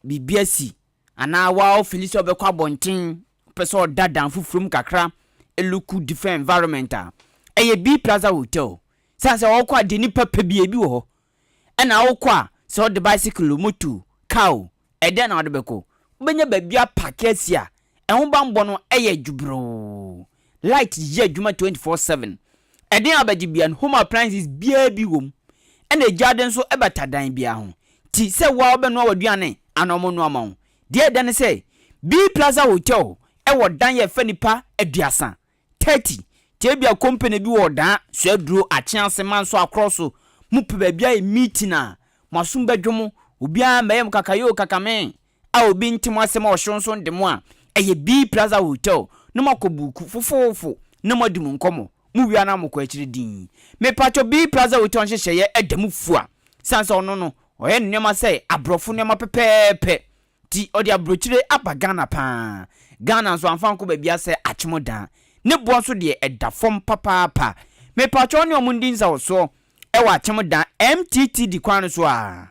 biribi asi Anaa woa wo fili sɛ wobɛkɔ abɔnten, wopɛ sɛ ɔda dan foforɔ mu kakra, ɛluku different environment a, ɛyɛ B Plaza Hotel. Sane sɛ ɔɔkɔ a deɛ nipa pɛ biaa ebi wɔ hɔ. Ɛna wokɔ a, sɛ wode bicycle o, motor o, car o, ɛdɛn na wode bɛkɔ? Wobɛnya baabi apake asi a ɛho banbɔ no yɛ dwobroo. Light yɛ adwuma twenty four seven. Ɛden a ɔbɛgye biara no home appliances biara bi wɔ mu. Ɛna egyaade nso bata dan biara ho. Nti sɛ woa wobɛnoa w'aduane anaa ɔmo noa ma wo. Deɛ ɛda ne sɛ B Plaza Hotel wɔ dan yɛ fɛ nipa aduasa, thirty. Nti ebia company bi wɔ ɔdaa, suaduro, akyease, manso, akorɔ so. Mo pɛ baabi ayɛ meeting a, mo asom bɛdwo mo. Obiara mɛyɛ mo kakayoo kakamee. a obi nte mo asɛm a ɔhyew nso de mo a, ɛyɛ Bee Plaza Hotel na moakɔ buuku fofoofo na moadi mo nkɔmmɔ. Mowia no a mokɔ akyiri dinn. Mepakyɛw Bee Plaza Hotel nhyehyɛeɛ ɛda mu fua sane sɛ ɔno no ɔyɛ ne nneɛma sɛ aborɔfo nneɛma pɛpɛɛpɛ nti ɔde aburokyire aba Ghana pa ara. Ghana nso amfa ankɔ baabiara sɛ Atwemodaa. Ne boɔ nso deɛ ɛda fam papaapa. Mepakyɛw wo ne wɔn ndi nsawɔsoɔ ɛwɔ Atwemodaa MTTD kwan no so a.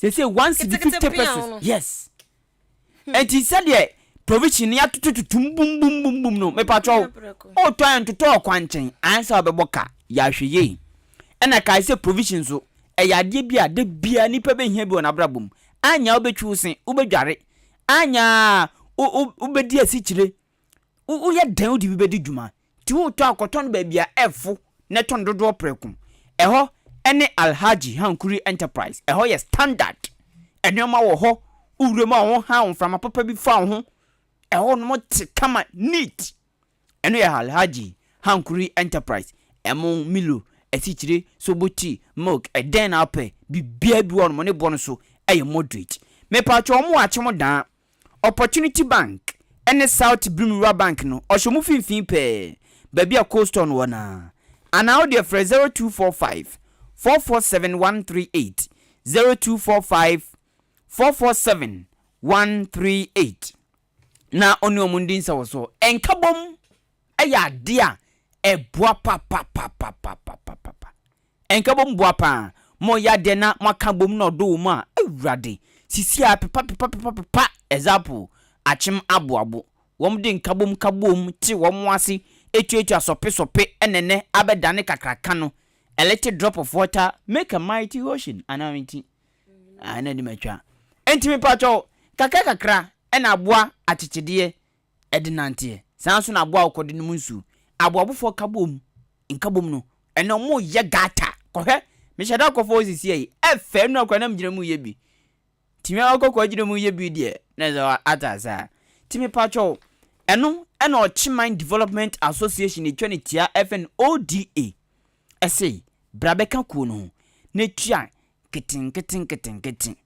sese one cedi fifty pesos yes ɛnti sɛdeɛ provision ni atoto tutum bum bum bum bum no mepatwɔ o tɔ yɛn totɔ ɔkwan nkyɛn ansa ɔbɛbɔ ka yɛahwɛ yie ɛna kae sɛ provision so ɛyɛ adeɛ bi a da biara nipa bɛhia bi wɔ n'abrabɔ mu anya wobɛtwi wo se wobɛdware anya wobɛdi asikyire Woyɛ dɛn wode bi bedi dwuma? Nti wotɔ a, kɔtɔ no baabi a ɛfo na ɛtɔ no dodoɔ prɛko. Ɛhɔ ne Alhaji Hankuri Enterprise. Ɛhɔ yɛ standard. Nneɛma wɔ hɔ, wowura mu a wonhaw, mframa papa bi fa wo ho. Ɛhɔnom te kama, neat. Ɛno yɛ Alhaji Hankuri Enterprise. Ɛmo, Milo, asikyire, sobo tea, milk, ɛdɛn na wopɛ, biribiara bi wɔ hɔnom. Ne bo nso yɛ moderate. Mepatwɔ wɔn wɔ Akyem Daa. Opportunity Bank ne South Brim Rural Bank no ɔhyɛ ɔmo finfin pɛɛ baabi a Cold Stone wɔ no ara. Anaa wo deɛ frɛ zero two four five four four seven one three eight, zero two four five four four seven one three eight, na ɔne ɔmo ndi nsawɔsoɔ. Nkabom! yɛ adeɛ a ɛboa papapapapapapapa. Ɛnka bom boa paa. Mo yɛ adeɛ na mo aka bom na ɔdɔ wɔ mu a, awurade, sisi a pepapepapepapepa ɛzapo, akyem aboabo. Wɔn de nka bom ka boom te wɔn ase etuatua sɔpe sɔpe ɛna ɛnɛ abɛ dane kakraka no, a little drop of water make a mighty ocean anaa me ti ah ɛna ɛde ma twa. Ɛnti me pakyɛw kakra kakra ɛna aboa akyekyedeɛ de nanteɛ. Saa ara nso na aboa a ɔkɔde nom nsu, aboabofoɔ kabom, nkabom no, ɛnna wɔyɛ gata kɔhwɛ. Mehyɛ da kɔfa hɔ sisiɛ yi, ɛfɛ nnora koraa na megyina mu yɛ bi. Nti me a ɔkɔ kɔ gyina mu yɛ bi deɛ, na ɛsɛ sɛ ate ase a. Nti mepakyɛ wo, ɛno na Ɔkyeman Development Association a ɛtwa no tia ɛfɛ no ODA. Ɛse, bra bɛka kuo no ho na tua nketenkete nketenkete.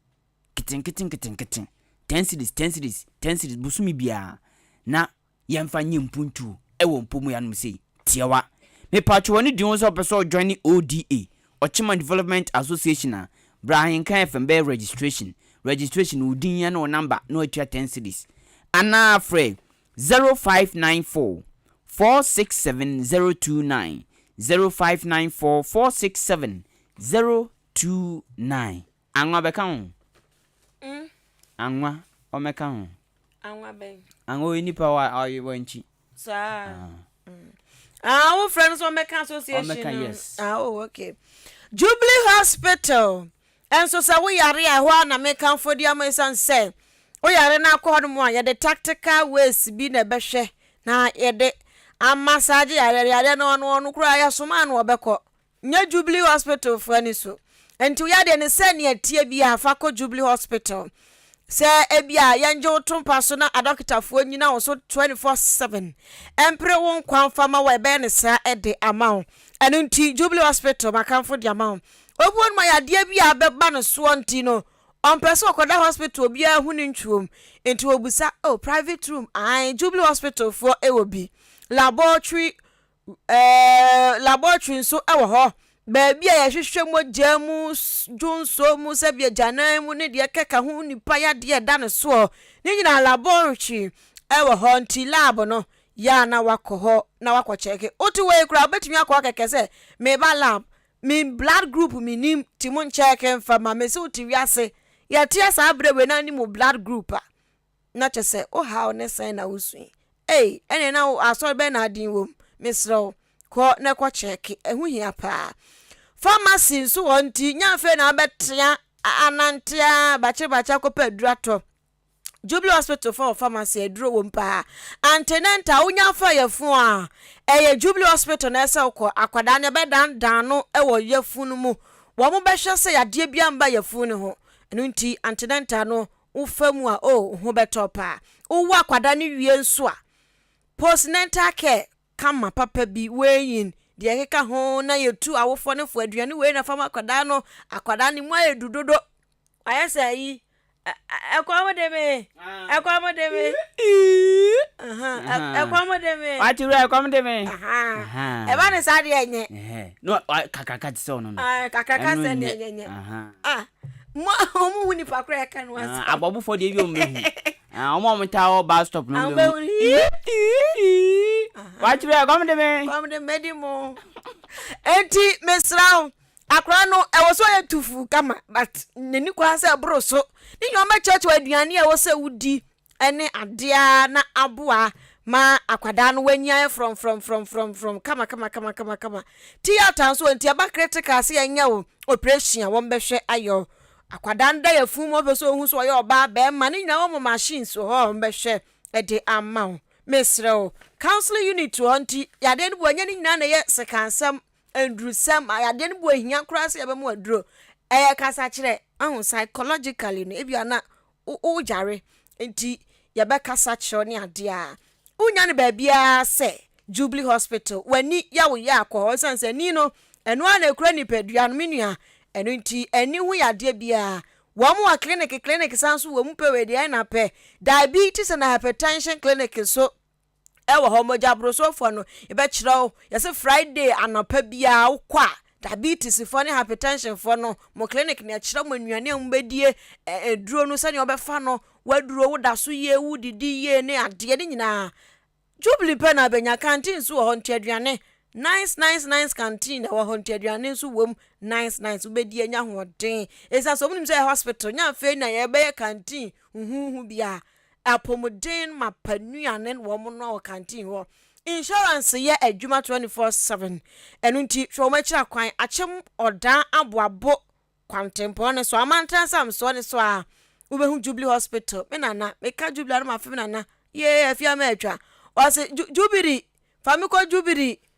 nketenkete nketenkete, ten cedis ten cedis ten cedis bosome biara na yɛmfa nyɛ mpuntuo wɔ mpo mu yɛanom sei tiawa mepatwo wɔne di ho sɛ ɔpɛ sɛ ɔjoine ODA Ochima Development Association a bra ahenkan fm bɛyɛ registration registration wo din ne wo number na watua ten cedis anaa frɛ 0594 467029 0594 467029. Anwa bɛka ho. Mm. Anwa ɔmɛka ho. Anwa bɛn? Anwa ɔyɛ nipa wa ɔyɛ wankyi. Saa. Ah. Mm. Ah, wo friend so ɔmɛka association. Ɔmɛka yes. Ah, oh, okay. Jubilee Hospital. Ɛnso sɛ wo yare a ɛhɔ a na meka mfo di ama ɛsiane sɛ wo yare no akɔ hɔ no mu a yɛde tactical ways bi na ɛbɛhwɛ na yɛde ama saa gye yare yare no ɔno ɔno koraa yɛsoma no ɔbɛkɔ Nyɛ Jubilee Hospital fo ani so. Enti wo yadeɛ no sɛnea ɛteɛ biara fa kɔ Jubilee Hospital. Sɛ ebia yɛngye wo to mpa so na adɔkotafoɔ nyina wo so 24 seven mpere wo nkwa mfa ma wo ɛbɛyɛ no saa de ama wo. Ɛno nti Jubilee Hospital makamfo de ama wo. Obuo no ma yadeɛ bi a abɛba no soɔ nti no ɔmpɛ sɛ ɔkɔda hospital obiara hu no ntwuom nti ɔbusa oh private room ae Jubilee Hospital foɔ wɔ bi laboratory Laboratory nso wɔ hɔ, baabi a yɛhwehwɛ mogya mu, dwonsɔ mu, sɛdeɛ agyanan mu ne deɛ ɛkeka ho nipa yadeɛ a ɛda no soɔ. Ne nyinaa laboratory wɔ hɔ nti lab no yɛ a na wakɔ hɔ na wakɔ kyɛke. Wote hɔ yi koraa wobɛtumi akɔ akɛkɛ sɛ meba lab, me blood group menim nti monkyɛke mfa ma me. Sɛ wote wiase yɛteɛ saa berɛ wei na wonim wo blood group a, na kyɛ sɛ wo haw ne sɛn na wusui. Ei, ɛneɛ na wo asɔre bɛn na aden wom? Mesrɛ wo, kɔ na kɔ kyɛɛke, ɛho hia paa. Pharmacy nso wɔ hɔ nti nyɛ afei na wobɛtea anante ara bakyebakye akɔpɛ aduro atɔ. Jubilee Hospital fa wɔ pharmacy, aduro wom paa. Antenatal, wonya afa yafun a, ɛyɛ Jubilee Hospital na ɛsɛ wokɔ. Akwadaa no yɛbɛdandan no wɔ yafun no mu, wɔbɛhwɛ sɛ yadeɛ biara mba yafun no ho. Ɛno nti antenatal no Wo fa mu a oh wo ho bɛtɔ paa Wo wo akwadaa no wie nso a Post natal care kama papa bi Weighing deɛ ɛkeka ho na yɛtu Awofoɔ no fo aduane wei na fa ma akwadaa no Akwadaa no mu ayɛ du dodo Wayɛ sɛ ayi Ɛkɔm eh, eh, de me Ɛkɔm eh, de me Eeii Ɛkɔm eh, de me Wate wura ɛkɔm de me Ɛba ne saa deɛ ɛnyɛ No kakraka te sɛ ɔno no Kakraka sɛ deɛ ɛnyɛ Ah Mo a wɔn hu nipa koro a ɛka no asɛm. Abɔbofoɔ deɛ ebi wɔn bɛ hu. Wɔn a wɔn taa wɔ bus stop no wɔn bɛ hu. Wakyerɛ kɔm de me. Kɔm de me di mo. Eti mesra wo. Akora no ɛwɔ so yɛ tufu kama but n'ani kɔ ha sɛ ɛboro so. Ne nyɛ ɔmɛkyerɛkyerɛ aduane a ɛwɔ sɛ wodi ne adeɛ ara na aboa ma akwadaa no wanyan frɔmfrɔmfrɔmfrɔmfrɔm kamakamakamakama tiyata nso nti ɛba critical sɛ yɛnyɛ wo operation a wɔbɛhwɛ ayɛ wo akwadaa no da yɛ funu mu ɔpɛ sɛ ohun so ɔyɛ ɔbaa bɛrima ne nyinaa wɔn machines wɔ hɔ a wɔbɛhwɛ ɛde ama wo mesrɛ wo counseling unit wɔ hɔ nti yadeɛ no bu ɛnyɛ ne nyinaa na ɛyɛ sekansɛm ndurusɛm yadeɛ no bu ehia koraa sɛ yɛbɛma aduro ɛyɛ kasakyerɛ ahu psychologically no ebi ana wo wo yare nti yɛbɛkasa kyerɛ wo ne adeɛ a, wonnya no baabiara sɛ Jubilee Hospital, w'ani yɛ wo ya kɔ hɔ ɛsiane sɛ ani no, ɛno ara na ɛkura nipadua no, me nua, ɛno nti ani ho yadeɛ biara wɔn wɔ clinic, clinic san nso wɔ mu pɛ wei deɛ ɛna pɛ, diabetes and hypertension clinic nso ɛwɔ hɔ mogyabrosofɔ no yɛbɛkyerɛ wo yɛse Friday anɔpa biara wokɔ a diabetes fɔ ne hypertension fɔ no mo clinic na ɛkyerɛ mo nnuane a mo bɛdie aduro no sɛdeɛ wɔbɛfa no waduro wo da so yie wo didi yie ne adeɛ ne nyinaa Jubilee pɛ na abɛnya canteen nso wɔ hɔ nti aduane nice nice nice canteen ɛwɔ hɔ nti aduane nso wom nice nice wobɛdi anya hoɔden ɛsiane sɛ ɔmo nim sɛ yɛ hospital nya afei na yɛbɛyɛ canteen huhuhu bia Apɔmuden mapa nnuane na wɔn noa wɔ canteen hɔ. Insurance yɛ adwuma twenty four seven ɛno nti hwɛ wɔn akyira kwan akyem ɔdaa aboabo kwantempɔn ne so amantan samsoɔ ne so aa wobɛhu jubilee hospital me nana meka jubilee a na mafe me nana yee afie ama atwa ɔse ju jubiri fa me kɔ jubiri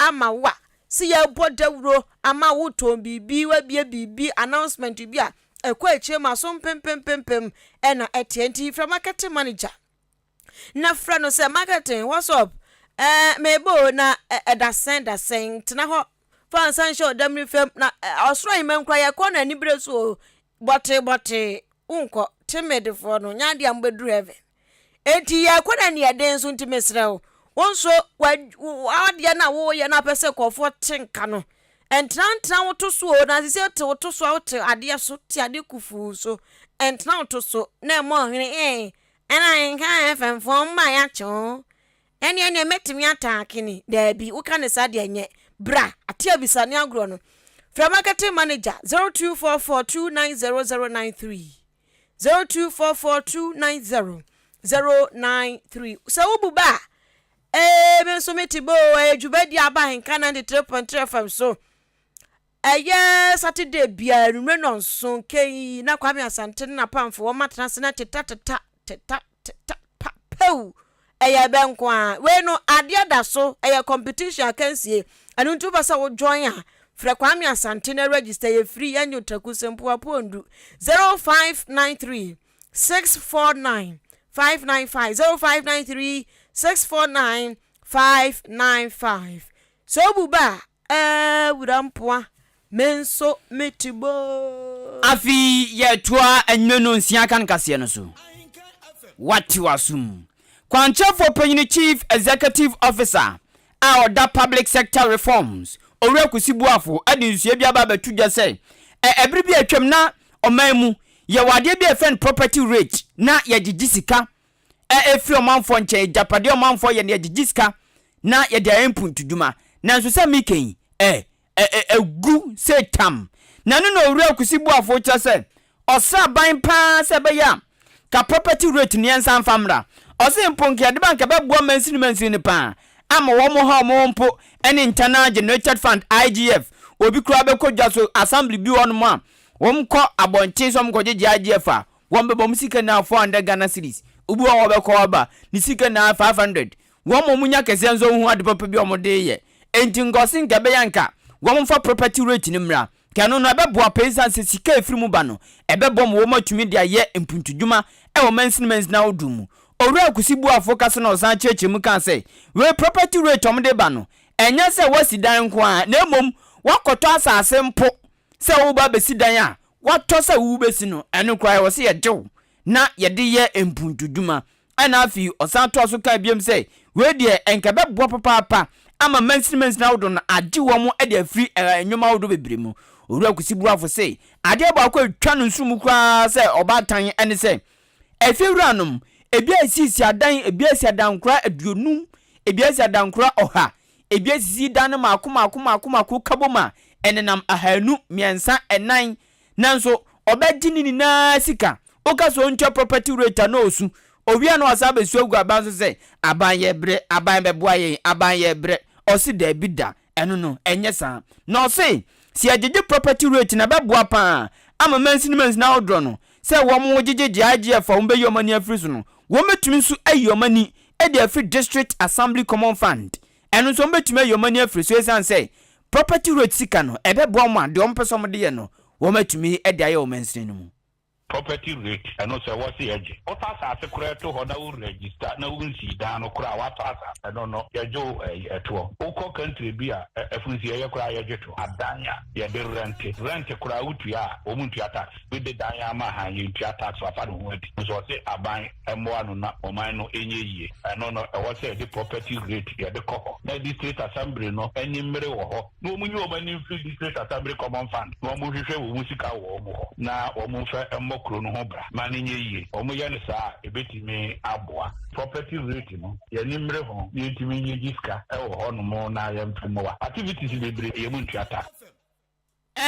ama wo a, sɛ yɛbɔ dawuro ama wo tɔn biribi, wabie biribi, announcement bi a, ɛkɔ akyire ma so mpempempempem ɛna ɛteɛ. Nti frɛ marketing manager na frɛ no sɛ marketing what's up ɛɛ mebɔ o na ɛda sɛn da sɛn tena hɔ fa nsa nhyɛ ɔdam ne fam na ɔsoro ahemman kura yɛkɔ no anibere so o Bɔtee bɔtee, wonkɔ. Timid foɔ no, nyɛ adeɛ a mobɛduru heaven. Enti yɛrekɔ na ani yɛ den nso nti mesrɛ wo, wo nso w'adeɛ no a woreyɛ no a wopɛ sɛ nkurɔfoɔ te nka no, ntena ntena wo to so o, na sɛ wote wo to so a wote adeɛ so, te adeɛ kufuu so, ntena wo to so na ɛmmɔ hwene ee, ɛna nka heavenfoɔ mma yɛakye wo, Ɛne ɛneɛ mɛtumi ata akene? Daabi, woka no saa deɛ nyɛ. Bra, ate abisa ne agorɔ no. Frɛ marketing manager, zero two four four two nine zero zero nine three, zero two four four two nine zero zero nine three. Sɛ wo bu bɛ a, ee, me nso mete bɛ o, ɛyɛ dwumadie a aba ahenka ninety three point three FM so. Ɛyɛ Saturday biara anwummere nnɔnson, kɛn yi na Kwame Asante ne n'apamfo wɔma tena ase na teta teta, teta teta, pa, pɛw! Ɛyɛ bɛ nko ara. Wei no, adeɛ da so, ɛyɛ competition akansie. Ɛno nti wopɛ sɛ wo join a, frɛ Kwame Asante na register, ɛyɛ free, ɛnyɛ otaku, Sempo Apoondu, 0593 649 595, 0593 649 595. Sɛ obu ba a, eh, wura mpoa, me nso me te boo. Afei yɛtoa anwummere no nsia kan kaseɛ no so. Wate w'asom. Kwankyerɛfoɔ Panyin Chief Executive Officer a ɔda Public Sector Reforms, Owura Kusi Boafo de nsua bi aba abɛto dwa sɛ, ɛ, ɛbere bi a atwam na ɔman mu yɛwɔ adeɛ bi a yɛfrɛ no property rate na yɛgyegye sika a ɛfiri ɔmanfoɔ nkyɛn, agyapadeɛ a ɔmanfoɔ yɛ na yɛgyegye sika na yɛde ayɛ mpuntudwuma. Nanso sɛ meka yi, ɛ, ɛ, ɛ, ɛgu sɛ tam. Na ɛno na Owura Kwesi Boafo kyerɛ sɛ ɔsraban pa ara sɛ ɛbɛyɛ a ka property rate no yɛnsan mfa mmra. Ɔse mpo nka yɛde ba nka ɛbɛboa mansini mansini no pa ara ama wɔmmoha wɔn ho mpo ne Internal Generated Fund, IGF. Obi koraa bɛkɔ dwa so, assembly bi wɔ hɔnom a wɔkɔ abɔnten sɛ wɔkɔgyegye IGF a, wɔn bɛbɔ wɔn sika nyinaa four hundred Ghana cedis obi wɔ hɔ ɔbɛkɔ aba ne sika nyinaa five hundred wɔn a wɔnya kɛseɛ nso hu ade papa bi a wɔde reyɛ enti nka ɔse nka ɛbɛyɛ nka wɔn mfa property rate no mmra nka ɛno no ɛbɛboa paa ɛsiane sɛ sika a ɛfiri mu ba no ɛbɛbɔ ma wɔn atumi de ayɛ mpuntudwuma ɛwɔ mansini mansini ahodoɔ mu Owura Akusi Boafo kasa na ɔsan kyerɛkyerɛ mu kaa sɛ wei property rate wɔn de ba no ɛnyɛ sɛ woasi dan nko ara na mmom woakɔtɔ asase mpo sɛ woreba abɛsi dan a woatɔ sɛ wobɛsi no, ɛno koraa ɛwɔ sɛ yɛgye wo na yɛde yɛ mpuntudwuma. Ɛnna afei ɔsan toa so kaa biom sɛ, Wei deɛ, ɛnka ɛbɛboa papaapa ama mansinimansini ahodoɔ no agye wɔn de afiri nneɛma ahodoɔ bebree mu. Owura Kwesi Boafo se adeɛ baako a ɛtwa no nsono mu koraa sɛ ɔbaatan ne sɛ, afiewuranom, ebi asi asiadan, ebi asi adankora aduonum, ebi asi adankora ɔha, Edua sisi da no mmaako mmaako mmaako mmaako kabom a, ɛnenam ahanu, mmiɛnsa, nnan. Nanso ɔbɛgye ne nyinaa sika. Woka sɛ ɔntua property rate a na ɔresu. Ɔwie a na wasan abɛsu agu aban so sɛ, Aban yɛ brɛ, aban bɛboa yɛn, aban yɛ brɛ. Ɔse daabi da, ɛno no, ɛnyɛ saa. Na ɔse sɛ yɛgyegye property rate no a, ɛbɛboa pa ara ama mansini mansini ahodoɔ no sɛ wɔn gyegyegye IGF a wɔbɛyi wɔn ani afiri so no, wɔbɛtumi nso ayi wɔn ani de afiri District Assembly Common Fund, ɛno nso wɔbɛtumi ayi wɔn ani afiri so ɛsiane sɛ property rate sika no ɛbɛboa wɔn ma deɛ wɔpɛ sɛ wɔde yɛ no wɔatumi de ayɛ wɔ mansini no mu. Property rate, ɛno sɛ wɔse ɛgye wotɔ asaase koraa to hɔ na wo register na wo nsii dan no koraa a woatɔ asaase, ɛno no yɛgye wo ɛyi toɔ. Wokɔ country bi a afunsiieɛ koraa yɛgye toɔ. Adan a yɛde rente, rent koraa wotua a wɔntua tax, wode dan ama han yɛntua tax, wafa ne ho adi nso wɔse aban. mmoa no na ɔman no nyɛ yie. Ɛno no, ɛwɔ sɛ yɛde property rate yɛde kɔ hɔ na district assembly no ani mmere wɔ hɔ na wɔn nyi wɔn ani mfiri district assembly common fund na wɔn nhwehwɛ wɔn sika wɔ wɔn hɔ na wɔn mfa mmɔ kuro no ho bra ma no nyɛ yie. Wɔn yɛ no saa a, ɛbɛtumi aboa. Property rate no, yɛn ani mmere ho na yɛntumi nyɛ gyi sika wɔ hɔ nom na yɛmfa mmoa activities bebree yɛn mu ntua ta.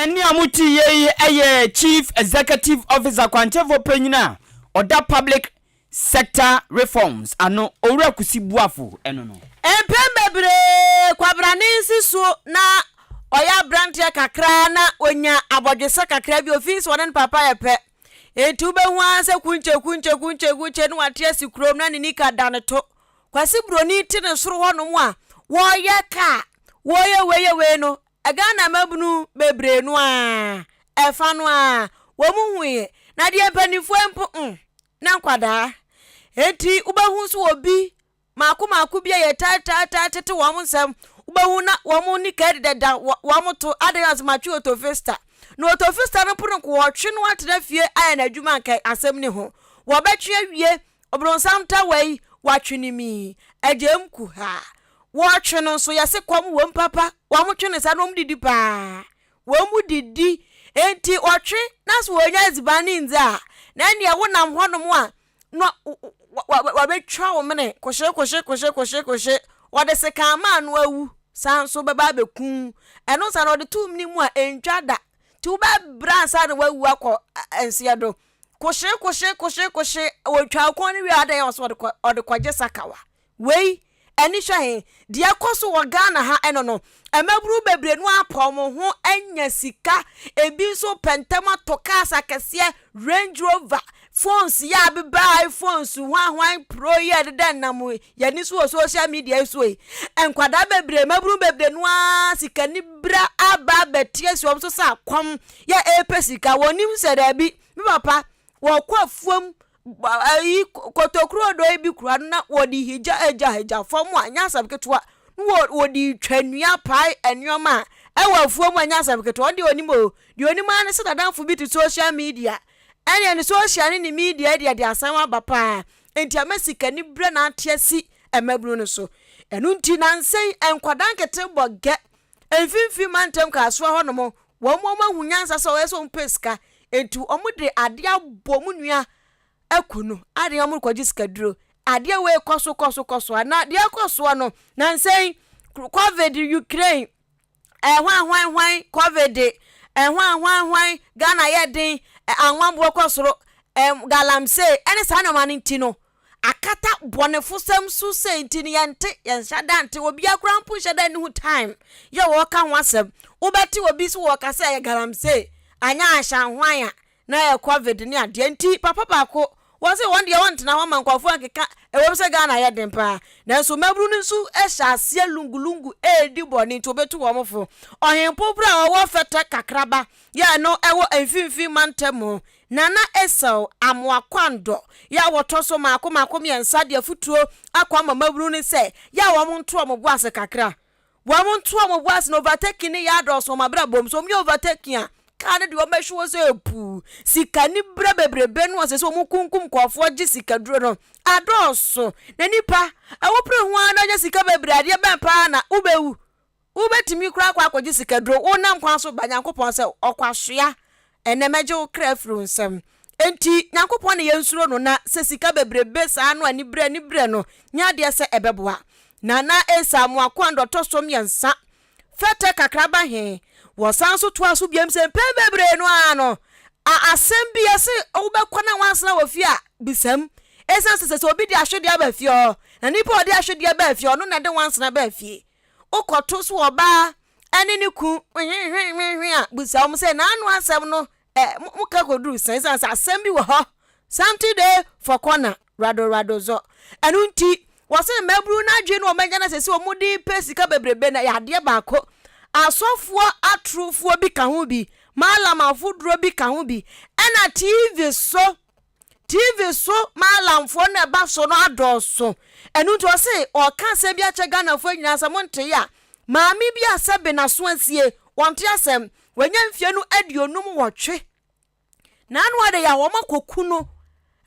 Nea motiiɛ yi yɛ Chief Executive Officer kwankyefo panyin a ɔda Public Sector Reforms ano, Owura Kusi Boafo ɛno no. Mpɛn bebree kwabrane nsi so na ɔyɛ abranteɛ kakra na ɔnya abɔdwesɛ kakra bi, ɔfii sɛ ɔne ne papa yɛ pɛ. Enti wobɛhu ara sɛ kunkye kunkye kunkye kunkye na wate asi kurom na ne nika da ne to. Kwasi Broni te ne soro hɔnom a wɔreyɛ kaa, wɔreyɛ wei yɛ wei no, Ghana mmabunu bebree no ara, ɛfa no ara, wɔhuiɛ. Na deɛ mpanimfoɔ mpo ho, na nkwadaa. Enti wobɛhu nso obi mako mako bi a yɛtaataatae tete wɔn nsɛm, wobɛhu na wɔn ne kadi dada wɔn to adɛn ase matwe otofista. Na otofista no mpo no nko wɔtwe no atena fie ayɛ n'adwuma nka asɛm ne ho. Wɔbɛtwe awie, ɔbronsam tawa yi, wɔatwe ne mii, agyam kuhaa. Wɔtwe no nso, yɛse kɔm wom papa, wɔtwe no saa na wɔdidi paa, wɔdidi, enti ɔtwe na sɛ wɔnya adziban no ndzi a, na nneɛ wonam hɔnom a na wɔbɛtwa wo mene koshe koshe koshe koshe koshe, wɔde sekan ma ano awu, saa nso bɛba abɛku wo, ɛno saa no wɔde to wo mene mu a ɛntwa da, nti wobɛbrɛ ansa na wawu akɔ nseɛ do, koshe koshe koshe koshe, wɔtwa wo kɔn no wie a adɛn a wɔse wɔde kɔgye sakawa, Wei ani hwɛ he? Deɛ ɛkɔ so wɔ Ghana ha ɛno no, mmabunu bebree no ara pɛ wɔn ho anya sika, ebi nso pɛ ntɛm atɔ cars akɛseɛ, Range Rover, phones yɛ abeba iPhones, hwan hwan pro yi a ɛdeda nam yɛn ani so wɔ social media yi so yi. Nkwadaa bebree, mmabunu bebree no ara sikanibra aba abɛte asi wɔn so sɛ akɔm yɛ ɛrepɛ sika. Wɔnim sɛ daabi, me papa, wɔkɔ afuom ayi kotokuro dɔ yi bi kura no na wɔde higya agya agya fam a nyɛ asɛm ketewa na wɔ wɔde twa nnua pae nneɛma a ɛwɔ afuo mu a nyɛ asɛm ketewa ɔde onim o deɛ onim ara ne sɛ n'adanfo bi te social media ɛnna ne social ne ne media deɛ de asɛm aba paa nti ama sikani brɛ n'ate asi mmabunu no so ɛno nti nansɛn nkwadaa nkete bɔ gɛ Mfimfini mantam kasoa hɔ nom wɔn wɔn ahu nyansa sɛ ɔyɛ sɛ wɔn pɛ sika nti wɔn de adeɛ abɔ wɔn nua aku no adeɛ wɔn rekɔgye sika duro adeɛ wei kɔ so kɔ so kɔ so ana deɛ ɛkɔ soɔ no nansɛn covid ukraine ɛhwan eh, hwan hwan covid ɛhwan eh, hwan hwan ghana yɛ den eh, anwanboɔ kɔ soro eh, galamsey ɛne saa nneɛma no nti no akata bɔnefosɛm so sei nti no yɛnte yɛnhyɛ da nte obiara koraa mpo nhyɛ da nhu time yɛ wɔka ho asɛm wobɛte obi so wɔka sɛ ɛyɛ galamsey anyɛ ahyɛnhwan a na ɛyɛ covid ne adeɛ nti papa baako wɔse wɔn deɛ wɔntena hɔ ma nkurɔfoɔ ankeka ɛwom sɛ Ghana yɛ den paa nanso mmabunu no nso hyɛ aseɛ lungulungu ɛredi bɔne nti obetu wɔn fo ɔhempo berɛ a ɔwɔ fɛtɛ kakraba yɛ no ɛwɔ mfimfini mantam Na na Esau amoa kwan dɔ yɛ a wɔtɔ so mmaako mmaako mmiɛnsa de afutuo akɔ ama mmabunu no sɛ yɛ a wɔn nto wɔn bo ase kakra. Wɔn nto wɔn bo ase na overtaking no yɛ adɔɔso wɔn abrabɔ mu. Sɛ wɔyɛ overtaking a, car no deɛ wɔbɛhwe hɔ sɛ puu. Sika ne berɛ bebrebe no a ɛsɛ sɛ wɔkunkum nkurɔfoɔ gye sika duro no adɔɔso. Na nipa, awopere ho ara na ɔnya sika bebree, adeɛ bɛn paa na wobɛwu? Wobɛtumi koraa akɔ akɔgye sikaduro wonam kwan so ba Nyankopɔn sɛ, Ɔkwasoa, ɛnnɛ mɛgye wo kra afiri wo nsam. Enti Nyankopɔn na yɛnsuro no na sɛ sika bebrebe saa no aniberɛ aniberɛ no nyɛ adeɛ sɛ ɛbɛboa. Nana Esa Amoakoan dɔ tɔ so mmiɛnsa, fɛtɛ kakra ba he. Wɔsan nso toaa so biom sɛ mpɛn bebree no ara no a asɛm bi a se wobɛkɔ na woansena wɔ fie a bisam esiane sɛ sɛ sɛ obi de ahwedeɛ aba fie hɔ na nipa a ɔde ahwedeɛ baa fie ɔno na ɛde woansena baa fie. wokɔto so ɔbaa ɛne ne ku hwehwehwehwehwe a busa wɔn sɛ n'ano asɛm no ɛ mo ka kɔduru sɛn sɛ sɛ asɛm bi wɔ hɔ something dey for corner rado rado zɔ ɛno nti wɔsɛ mmaburu n'adwene no wɔn agya no sɛ sɛ wɔn de pɛ sika bebrebe na yɛ adeɛ baako asɔfoɔ atorofoɔ bi ka ho bi maalamafo duro bi ka ho bi ɛna tv so TV so maalamfoɔ no ɛba so no adɔɔso. Ɛno nti ɔse ɔka asɛm bi akyɛ Ghanafoɔ nyinaa sɛ montee a maame bi a sɛbe n'aso asie, ɔnte asɛm. Wanya mfeɛ no aduonum wɔtwe. Na ano adeyɛ a wɔakɔku no.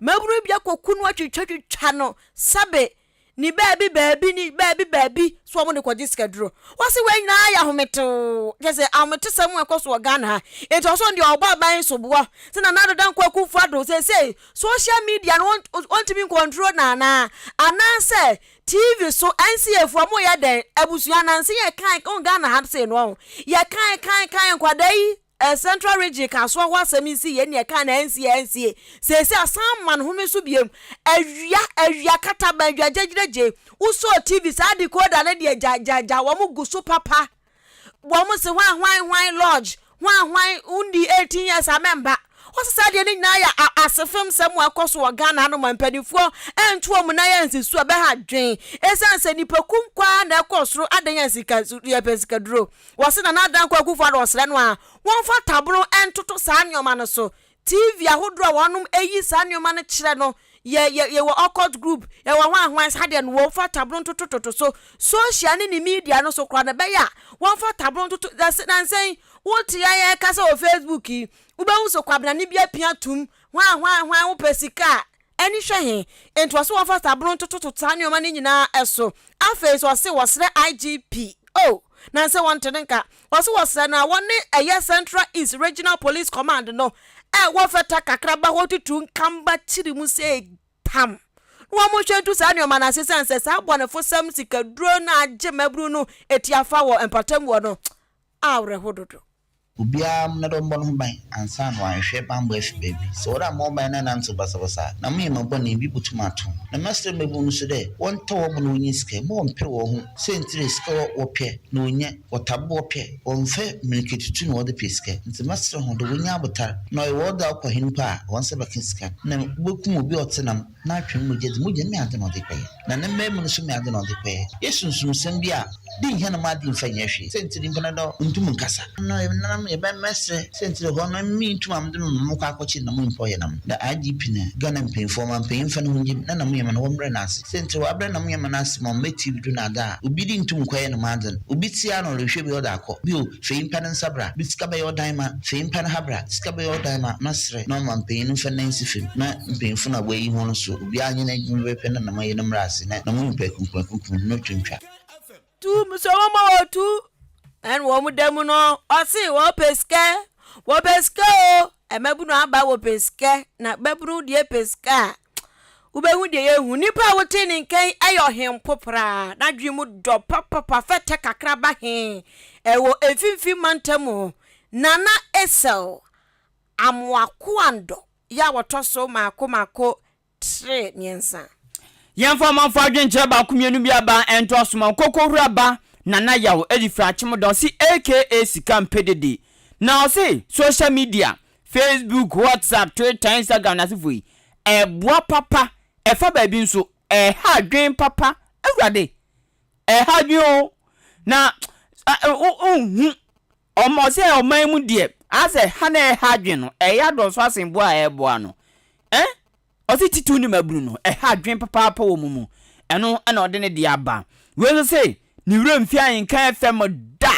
Mmabunu bi akɔku no atwitwatwitwa no sɛbe ne baabi baabi ne baabi baabi so wɔn de kɔgye sikaduro. Wɔsi wei nyinaa yɛ ahometew kyɛ sɛ ahometesɛm a ɛkɔ so wɔ Ghana ha. Nti ɔsɔn deɛ ɔbɔ aban so boɔ sɛ Nana Addo Dankwa Akufo Addo seesei social media no wɔntumi ncontrol no anaa? Anaasɛ TV so NCA foɔ wɔyɛ dɛn? Abusua nanse yɛkae wɔ Ghana ha sei no wɔn yɛkae kae kae nkwadaa yi A central region kasoa ho asɛm nsi yɛ nea ɛkaa no ansi a ansie. Seesei asan ma no home so biom. Awia awia kata bɛn dwa gyegyina gye. Wo sɔɔ TV saa decoder no deɛ gya gya gya wɔn gu so papa. Wɔn se hwan hwan hwan lodge hwan hwan wo nni 18 years a mɛmba. Wo se saa deɛ no nyinaa yɛ a asefem sɛm a ɛkɔ so wɔ Ghana anom a mpaninfoɔ ɛnto wɔn nan ansi so a bɛha dwen. Ɛsiane sɛ nipa kum kɔ ara na ɛkɔ soro adɛn a sika yɛpɛ sika duro. Wɔse Nana Addo Dankwa Akuffo Addo ɔsrɛ no a wɔmfa taboro ntoto saa nnoɔma no so. TV ahodoɔ a wɔnom yi saa nnoɔma no kyerɛ no yɛ yɛ yɛwɔ occult group, yɛwɔ hwan hwan saa deɛ no wɔmfa taboro ntoto toto so. Social ne ne media no so koraa no ɛbɛyɛ a wɔmfa taboro ntoto dɛs nansa yi wote yɛn yɛkasa wɔ Facebook yi wobɛhu sɛ Kwabena ne bi apia atom hwan hwan hwan wopɛ sika a ani hwɛ he, nti ɔse wɔmfa sabro ntototo saa nnoɔma no nyinaa so. Afei so ɔse wɔsrɛ IGP o, na nsɛ wɔnte no nka, ɔse wɔsrɛ no a wɔne ɛyɛ Central East Regional Police Command no ɛwɔ fɛta kakraba hɔ tutu nkamba kyere mu sɛ tam na wɔnhwɛ ntu saa nnoɔma no ase esiane sɛ saa abɔnefosɛm sikaduro no a agye mmabunu no atiafa wɔ mpɔtam hɔ no awerɛho dodo. Obiara mmra dɛ ɔmbɔ no ho ban ansaana ɔaahwehwɛ bambɔ efi beebi. Sɛ ɔwɔ dɛ ambɔ ho ban na enantsew basabasa a, na meyɛ ma bɔn a, bi botum ato ho. Na mɛserɛ mbabun no so dɛ wɔntɔ hɔn bo na wonnya sika yi, mma wɔmmpɛ hɔnho. Siantsir a sika wɔpɛ na wonnya, wɔtaa bɔ wɔpɛ, wɔmmfa mbirikatutu na wɔdze pɛ sika. Ntsi mɛserɛ hɔn dɛ wonnya abotar, na ɔyɛ wɔdze akɔ hen mpo a, hɔn nsa bɛkã sika no, nna wobokum obi a ɔtse nam. N'atwe no mogya dzi, mogya no meadze na ɔdze kɔe, na ne mbae mu no so meadze na ɔdze kɔe. Yɛ sunsumsɛm bi a bi nnhia no m'adze mmfa nnyɛ hwee. Siantsir nyimpa no dɔ nntum nnkasa. Nna ɔyɛ me nananom yɛ mɛmɛserɛ. Siantsir hɔ no emi nntum ammdze me mba mɔkɔ akɔkye nna mo nyimpa ɔyɛ nam. Nda IGP na Ghana mpanyimfo ɔma mpanyin mfa no ho ngye me na nna mo nyɛma no wɔmbrɛ no ase. Siantsir hɔ abrɛ nna mo nyɛma no ase ma ɔmmbɛ TV do na adze a obi dze nntum nnkɔyɛ no m'adze no. Obi tse ara na ɔrohwɛ bi ɔdze akɔ. Bio, Fei mpɛ no nsa bra me sika bɛyɛ ɔdan ma Fei mpɛ no ha bra sika bɛyɛ ɔdan ma Mɛsrɛ na ɔma mpanin no mfa nna nsi fam Na mpanyinfo na wɔayi ho no so Obiara nyɛ n'adwuma pɛpɛpɛ na nam ayi no mmra ase Na na mo nipa akunkum akunkum no to ntwa. Tu mesua wɔn ma wɔ tu Ɛna wɔn da mu no ɔse wɔpɛ sika Wɔpɛ sika o Ɛmabunu aba wɔpɛ sika Na mabunu deɛ pɛ sika a wobɛhu deɛ yɛhu nipa a wote ne nka yi yɛ ɔhempo koraa n'adwene mu dɔ papapa fɛtɛ kakraba he ɛwɔ mfimfini mantam mu nana esel amoakoandɔ yɛ a wɔtɔ so maako maako tre mmiɛnsa yɛmfa ɔmanfo adwenkyerɛ baako mmienu bi aba ɛnto asoma nkokohura ba nana yaw ɛde firi akyemodɔ se aka sika mpedede na ɔse social media Facebook, WhatsApp, Twitter, Instagram n'asefo yi, ɛboa papa, ɛfa baabi nso, ɛha adwen papa, awurade, ɛha adwen o, na wohu ɔmɔ sɛ ɔman mu deɛ, asɛ ha na ɛha adwen no, ɛyɛ adɔso asen boa a ɛboa no, eh? ɔse titiw ne mabunu no, ɛha adwen papaapa wɔ mu mu, ɛno ɛna ɔde ne deɛ aba. Wei nso se, ne werɛ mfi ahenka FM da!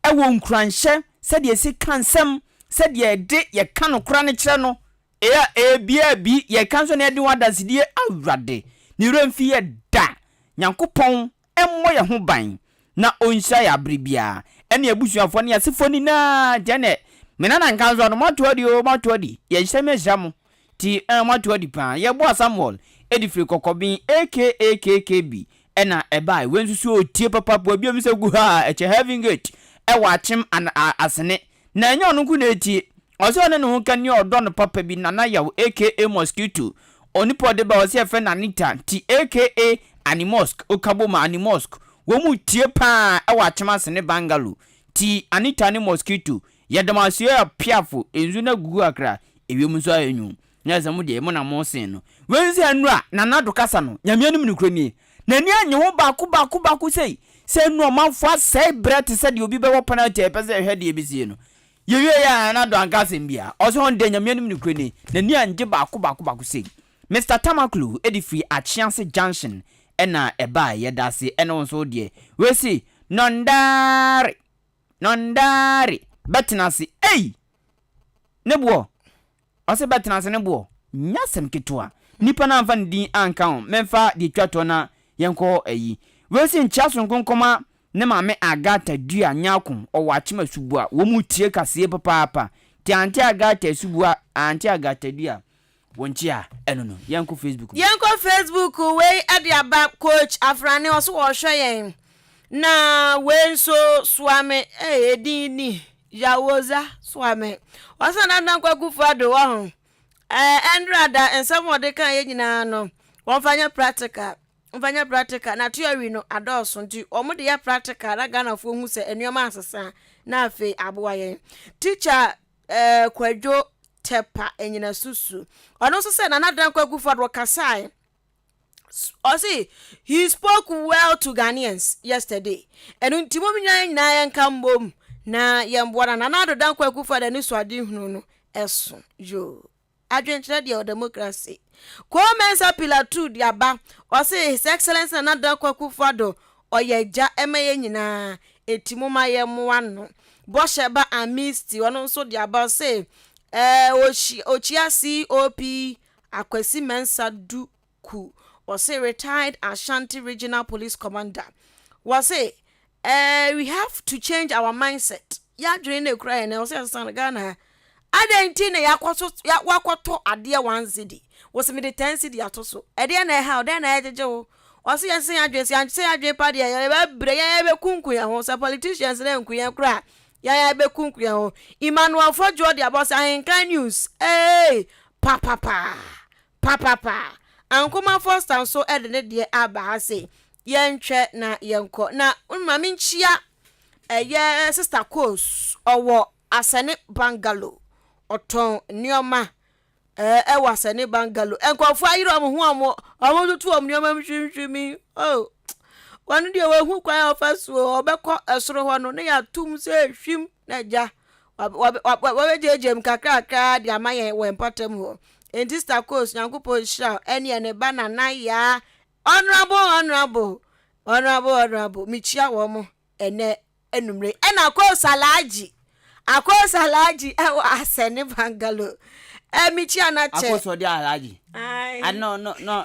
wɔ nkuranhyɛ sɛdeɛ yɛsi ka nsɛm, sɛdeɛ yɛde yɛka nokora no kyerɛ no. Ea ebia bi yɛka nso na yɛde ho adansedie Awurade ne werɛ mfi yɛ da Nyankopɔn mmɔ yɛ ho ban na ɔnhyira yɛ abere biara ɛne yɛ abusuafoɔ ne yɛ asefoɔ nyinaa Janet, Me nana nka nso no moato adi oo moato adi Yɛnhyira me ahyira mo. Ti eh moato adi paa. Yɛboa Samuel de firi kɔkɔben aka kk bi na ɛbae wei nso so otie papa po abiam sɛ guhaa ɛkyɛ heaven gate ɛwɔ akyem an a asene na ɛnyɛ ɔno nko na ɛtie ɔsɛ ɔne ne ho ka nie ɔdɔ no papa bi nana yaw aka mosquito onipa ɔde ba ɔsɛ yɛfrɛ no anita nti aka ani mosque okabom ani mosque wɔn mu tie paa ɛwɔ akyem asene bangalo ti anita ne mosquito Yɛda mo ase ɔɔ Piafo nsu na gugu akra ewiem nso ayɛ nwun na sɛ mo deɛ mo na mo sen no. Wei nso yɛ nnura Nana Addo kasa no Nyame anim nokorɛ nie. N'ani annye ho baako baako baako sei sɛ nnura ɔmanfoɔ asɛe berɛ te sɛ deɛ obi bɛbɔ penalty a yɛpɛ sɛ yɛhwɛ deɛ ɛbɛsie no. Yɛwie yɛ a Nana Addo anka asɛm biara. Ɔse ɔno deɛ Nyame anim nokorɛ nie. N'ani angye baako baako baako sei. Mister Tamaklo de firi Akyease junction na ɛbaeɛ yɛda ase ɛne wo nso wo deɛ. Wei se Nondare. Nɔndaare! Bɛtena ase ei! Ne boɔ! Ɔse bɛtena ase ne boɔ! Nyɛ asɛm ketewa! Nipa no anfa ne din anka ho, menfa deɛ ɛtwa toɔ na yɛnkɔ ayi. Wei se nkyea sonko nkɔma ne maame Agatha Dua Nyarko, ɔwɔ Akyem Asubua. Wɔn retie kaseɛ papaapa. Nti Auntie Agatha Asubua, Auntie Agatha Dua, Wo nti a ɛno no yɛn kɔ Facebook no. Yɛn kɔ Facebook wei ɛde aba coach afrane ɔso wɔ hwɛ yɛn na wei nso soa me ɛɛ edin ni yawoza soa me ɔsan na dan kwaku fo ado wɔ ho ɛɛ ɛndra da nsɛm ɔde kan yɛ nyinaa no wɔn fa nyɛ practical wɔn fa nyɛ practical na theory no adɔɔso nti wɔn de yɛ practical na Ghana fo hu sɛ nneɛma asesa na afei aboa yɛn teacher Eh, Kwadwo Tɛpa Anyinasusu. Ɔno nso sɛ Nana Dankwa Akufo-Addo ɔkasae. Ɔse he spoke well to Ghanaians yesterday. Ɛno nti mom nyinaa nyinaa yɛnka mmom na yɛmboa na Nana Addo Dankwa Akufo-Addo anisoadehunu no ɛso. Yoo. Adwenkyerɛ deɛ ɔdemocracy. Koo Mensah pillar two de aba ɔse his excellence Nana Addo Akufo Addo ɔyɛ agya ɛma yɛn nyinaa eti moma yɛn moa no. Bɔhyɛ ba Ammisti ɔno nso de aba ɔse ɛɛ ɔhyia ɔkyia COP Akwasi Mensah du. ku ɔse retired Ashanti regional police commander wɔse eh we have to change our mindset yadwene na ekura yɛn na ɛwɔ sɛ yɛsesa no Ghana ha adɛn nti na yakɔ so wakɔtɔ adeɛ one cedi wɔse mede ten cedi ato so ɛdeɛ na ɛha ɔdɛn na ɛgyegye wo ɔse yɛnsesa yɛn adwene sɛ yɛnsesa yɛn adwene pa deɛ yɛbɛbrɛ yɛn yɛbɛkunku yɛn ho sɛ politicians na nku yɛn koraa yɛn yɛbɛkunku yɛn ho Emmanuel Fodjoɔ de abɔ sɛ ahenkan news ee papapaa Papapa! Ankomah Foster nso de ne deɛ aba ha se, Yɛntwɛ na yɛnkɔ na ma menkyia ɛyɛ Sista Coles, ɔwɔ Asɛne Bungalow, ɔtɔn nneɛma ɛɛ wɔ Asɛne Bungalow. Nkurɔfoɔ ayere wɔn ho a wɔn wɔtoto wɔn nneɛma mu hwimhwimi. Oh, wɔn deɛ wɔahu kwan a wɔfa so ɔbɛkɔ soro hɔ no na yɛatom sɛ hwim na agya. Wɔbɛgyeagyea mu kakrakra de ama yɛn wɔ mpɔtam hɔ. Enti Sister Coles, Nyankopɔn nhyira wo ɛneɛ ne ba Nana Yaa, Honourable, Honourable, Honourable, Honourable, mekyia wɔn ɛnɛ anummerɛ yi, ɛna Coles Alhaji, Akoos Alhaji ɛwɔ Asɛne Bangalore, ɛɛ mekyia no akyɛ. Akoos ɔde Alhaji, ah no, no, no,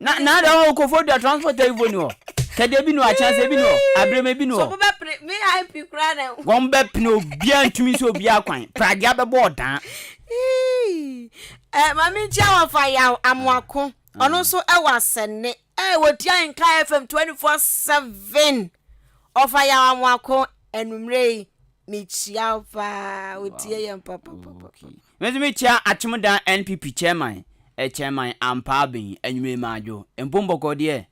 Na na ada hɔ wɔ Kofodua transport ayi fo ni hɔ. Kɛdɛ ebi ni hɔ, akyɛnse ebi ni hɔ, abrɛma ebi ni hɔ. So mo bɛ pene VIP koraa na ehu. Wɔn bɛ pene obiaa ntumi nsi obiaa kwan. Pragea bɛ bɔ ɔdaa. Eii eh mame nkyia wɔ fa yaw amoako ɔno nso wɔ asɛnne eh wɔ tia nka fm 24 7 ɔfa yaw amoako anumere yi me kyia wo paa wɔ tie yɛn papapapa. Medze me tsia Atsemudan NPP Chairman, Chairman Ampaa Ben, Enyimire Madwo, Mpo Mbɔkɔɔ deɛ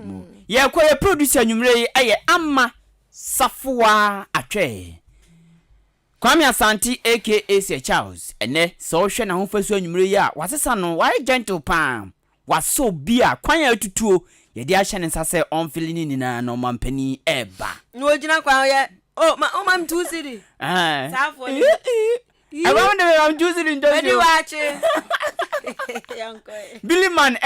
mo. Yɛkɔ yɛ producer enyimire yi yɛ Ama Safoaa Atwɛɛ. Kwame Asante aka Sir Charles, ɛnɛ sɛ wohwɛ n'ahofasuo enyimire yi a wasesa no, wayɛ gentle paa. Wɔasɔ obi a kwan a atutuo yɛde ahyɛ ne nsa sɛ ɔmfele no nyinaa na ɔmanpanin reba. Na ɔgyina kwan ho yɛ, Oh, ma woma me two cedi. Saa afoɔ no bi. Ɛba mo de me ma me two cedi ntɔ nsuo. Mɛdi waakye. Yɛnkɔ ɛ. Billy Man